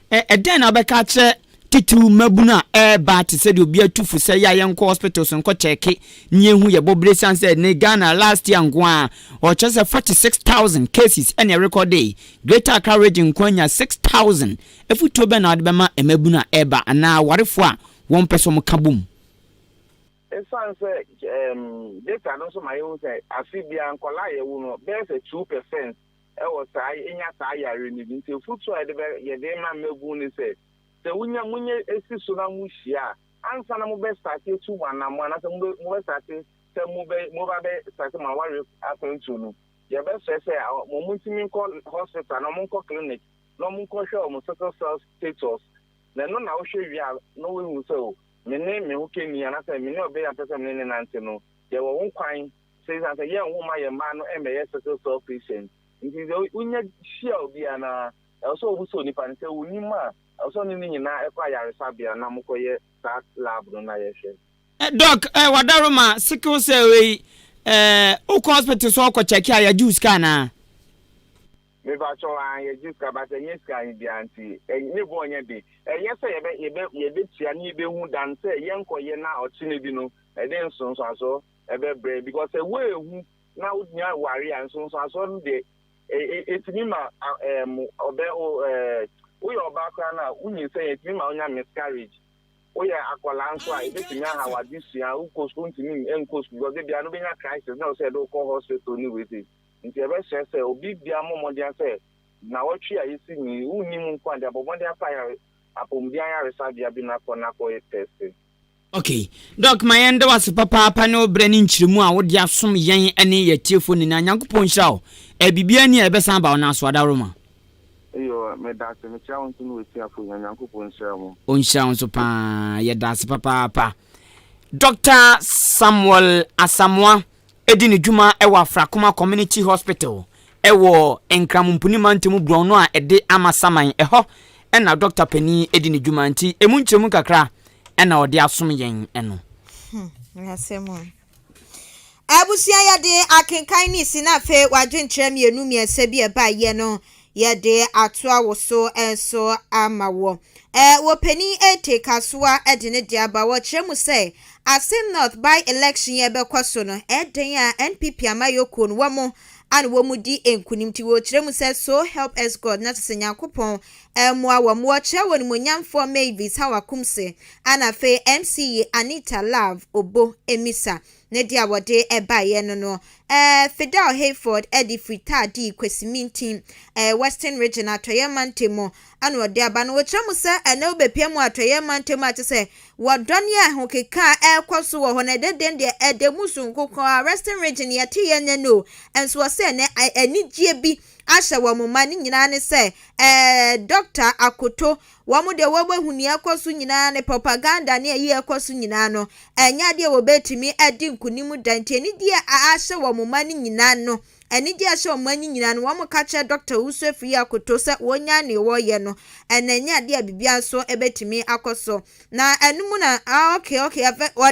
Ɛdɛn na wobɛka akyerɛ titiriw mmabun a ɛreba te sɛ deɛ obi atu fo sɛ yɛ a yɛnkɔ hospital so nkɔ kyɛɛke ne yɛnhu yɛ bɔbere san sɛ ne Ghana last year nko ara ɔkyerɛ sɛ 46,000 cases ɛna ɛrekɔdee Greater Accra region nko ara nya 6,000 afutuo bɛn na wode bɛma mmabun a ɛreba anaa awarefoɔ a wɔn pɛ sɛ wɔn ka bom Ɛsan sɛ data no nso ma yɛhu sɛ afe biara nkɔla a yɛwo no bɛyɛ sɛ two percent wɔ saa nya saa yare no bi nti afutuo a yɛde yɛde ma mmabunu ne sɛ sɛ wonya monyɛ si so na mo hyia a ansa na mo bɛ starte atu mo anamɔ anasɛ mo bɛ mo bɛ starte sɛ mo bɛ mo ba bɛ starte mo aware akwantuo no yɛbɛ srɛ sɛ mo mo ntumi nkɔ hospital na mo nkɔ clinic na mo nkɔ hwɛ wɔn sickle cell status na ɛno na wohwɛ wie a na wohu sɛ o me ne me ho kɛni anasɛ me ne ɔbɛ yɛ apɛsɛ me ne ne nante no yɛwɔ ho kwan So esiane sɛ yɛn ho mma yɛn mma no mmɛyɛ sickle cell patients nti, sɛ wunya hyia obi a na ɛwɔ sɛ wobisa onipa no sɛ onim a, ɛwɔ sɛ ɔne no nyinaa kɔ ayaresabea na mokɔyɛ saa lab no na yɛhwɛ? Doc, eh, wadaroma, sickle cell wei, eh, wokɔ hospital so ɔkɔ check a, yɛgye wo sika anaa? Mepakyɛw, ah, yɛgye sika, but ɛnyɛ sika he biara nti, eh, ne bo nyɛ den. Ɛnyɛ sɛ yɛbɛ, yɛbɛ, yɛbɛtua ne yɛbɛhu dan sɛ yɛnkɔyɛ na ɔkyena bi no, ɛde nsonsoasoɔ ɛbɛbrɛ because sɛ woanhu na wonya ware a nsonsoasoɔ no deɛ ɛtumi ma ɛɛm ɔbɛ o ɛɛ woyɛ ɔbaa koraa no a wonyinsɛn a ɛtumi ma wonya miscarriage woyɛ akwadaa nso a ɛbɛtumi aha w'adesua wokɔ sukuu ntumi nkɔ sukuu because ebia no bɛnya crisis na ɔsɛ ɛde wokɔ hospital ne wei sei nti ɛbɛhyɛ sɛ obi bia mmɔ mmɔden sɛ na wɔtwe a yɛsi ni wonni mu nko a de abɔ mmɔden akɔ ayare apɔmuden ayaresabea bi no akɔ no akɔyɛ test Ok Doc ma yɛn da wo ase papaapa ne wo berɛ ne nkyerɛmu a wode asom yɛn ne yɛ atiefoɔ nyinaa Nyankopɔn nhyira wo eh biribiara ni a yɛbɛsan aba wo nan so adaworoma. Eyoo medase mekyia wo nso ne w'atiafo nyinaa Nyankopɔn nhyira mo. Ɔnhyira wo nso paa yɛda ase papaapa Doctor Samuel Asamoah di ne dwuma wɔ Afrakoma Community Hospital wɔ Nkran Mpuni Mantam borɔno a ɛde Amasaman. Ɛhɔ na dɔkta panin di ne dwuma nti ɛmu nkyerɛmu kakra na ɔde asom yɛn no. Hmm, asɛm o. Abusua yɛde akenkan ne si na afei wadwenkyerɛ mmienu mmiɛnsa bi a ɛbaeɛ no Yɛde atoa wo so nso ama wo. Wɔ panin Ete Kasoa de ne deɛ aba, wɔkyerɛ mu sɛ, Assin North by election yi a ɛbɛkɔ so no, ɛdɛn a NPP amayɔkuo no wɔn ana wɔn di nkunim nti wɔkyerɛ mu sɛ So help us God na kyerɛ sɛ Nyankopɔn mmoa wɔn. Wɔkyerɛ wɔn animuonyamfoɔ Mavis Hawa Kumse ana afei MC yi Anita Love Obo Misa Ne deɛ wɔde baeɛ no no, eh, Fidel Hayford de firi Taa dii Kwesi Mintin, eh, Western Region, Atɔeɛ Mantam, ɛna ɔde aba. Na wɔkyerɛ mu sɛ ɛnnɛ wobɛpia mu Atɔeɛ Mantam a kyerɛ sɛ wɔdɔ ne ahokeka a ɛrekɔ so wɔ hɔ no, ɛdɛ dɛn deɛ ɛda mu sononko koraa, Western Region yɛteeɛ nnɛ no o, nso wɔ sɛ ɛnnɛ anigyeɛ bi ahyɛ wɔn ma, ne nyinaa ne sɛ, eh, Dɔkta Akoto Wɔn deɛ wɔahu nea ɛkɔ so nyinaa ne propaganda ne ayi a ɛkɔ so nyinaa no, ɛnyɛ adeɛ a wɔbɛtumi adi nkonim da. Nti anigyeɛ a ahyɛ wɔn ma no nyinaa no, anigyeɛ a ɛhyɛ wɔn ma no nyinaa no, wɔka kyerɛ Dɔkta Owusu Afriyie Akoto sɛ wɔnyae nea wɔreyɛ no, ɛna ɛnyɛ adeɛ a biribiara nso bɛtumi akɔ so. Na ɛno mu na, ah, okay, okay, afei wɔde.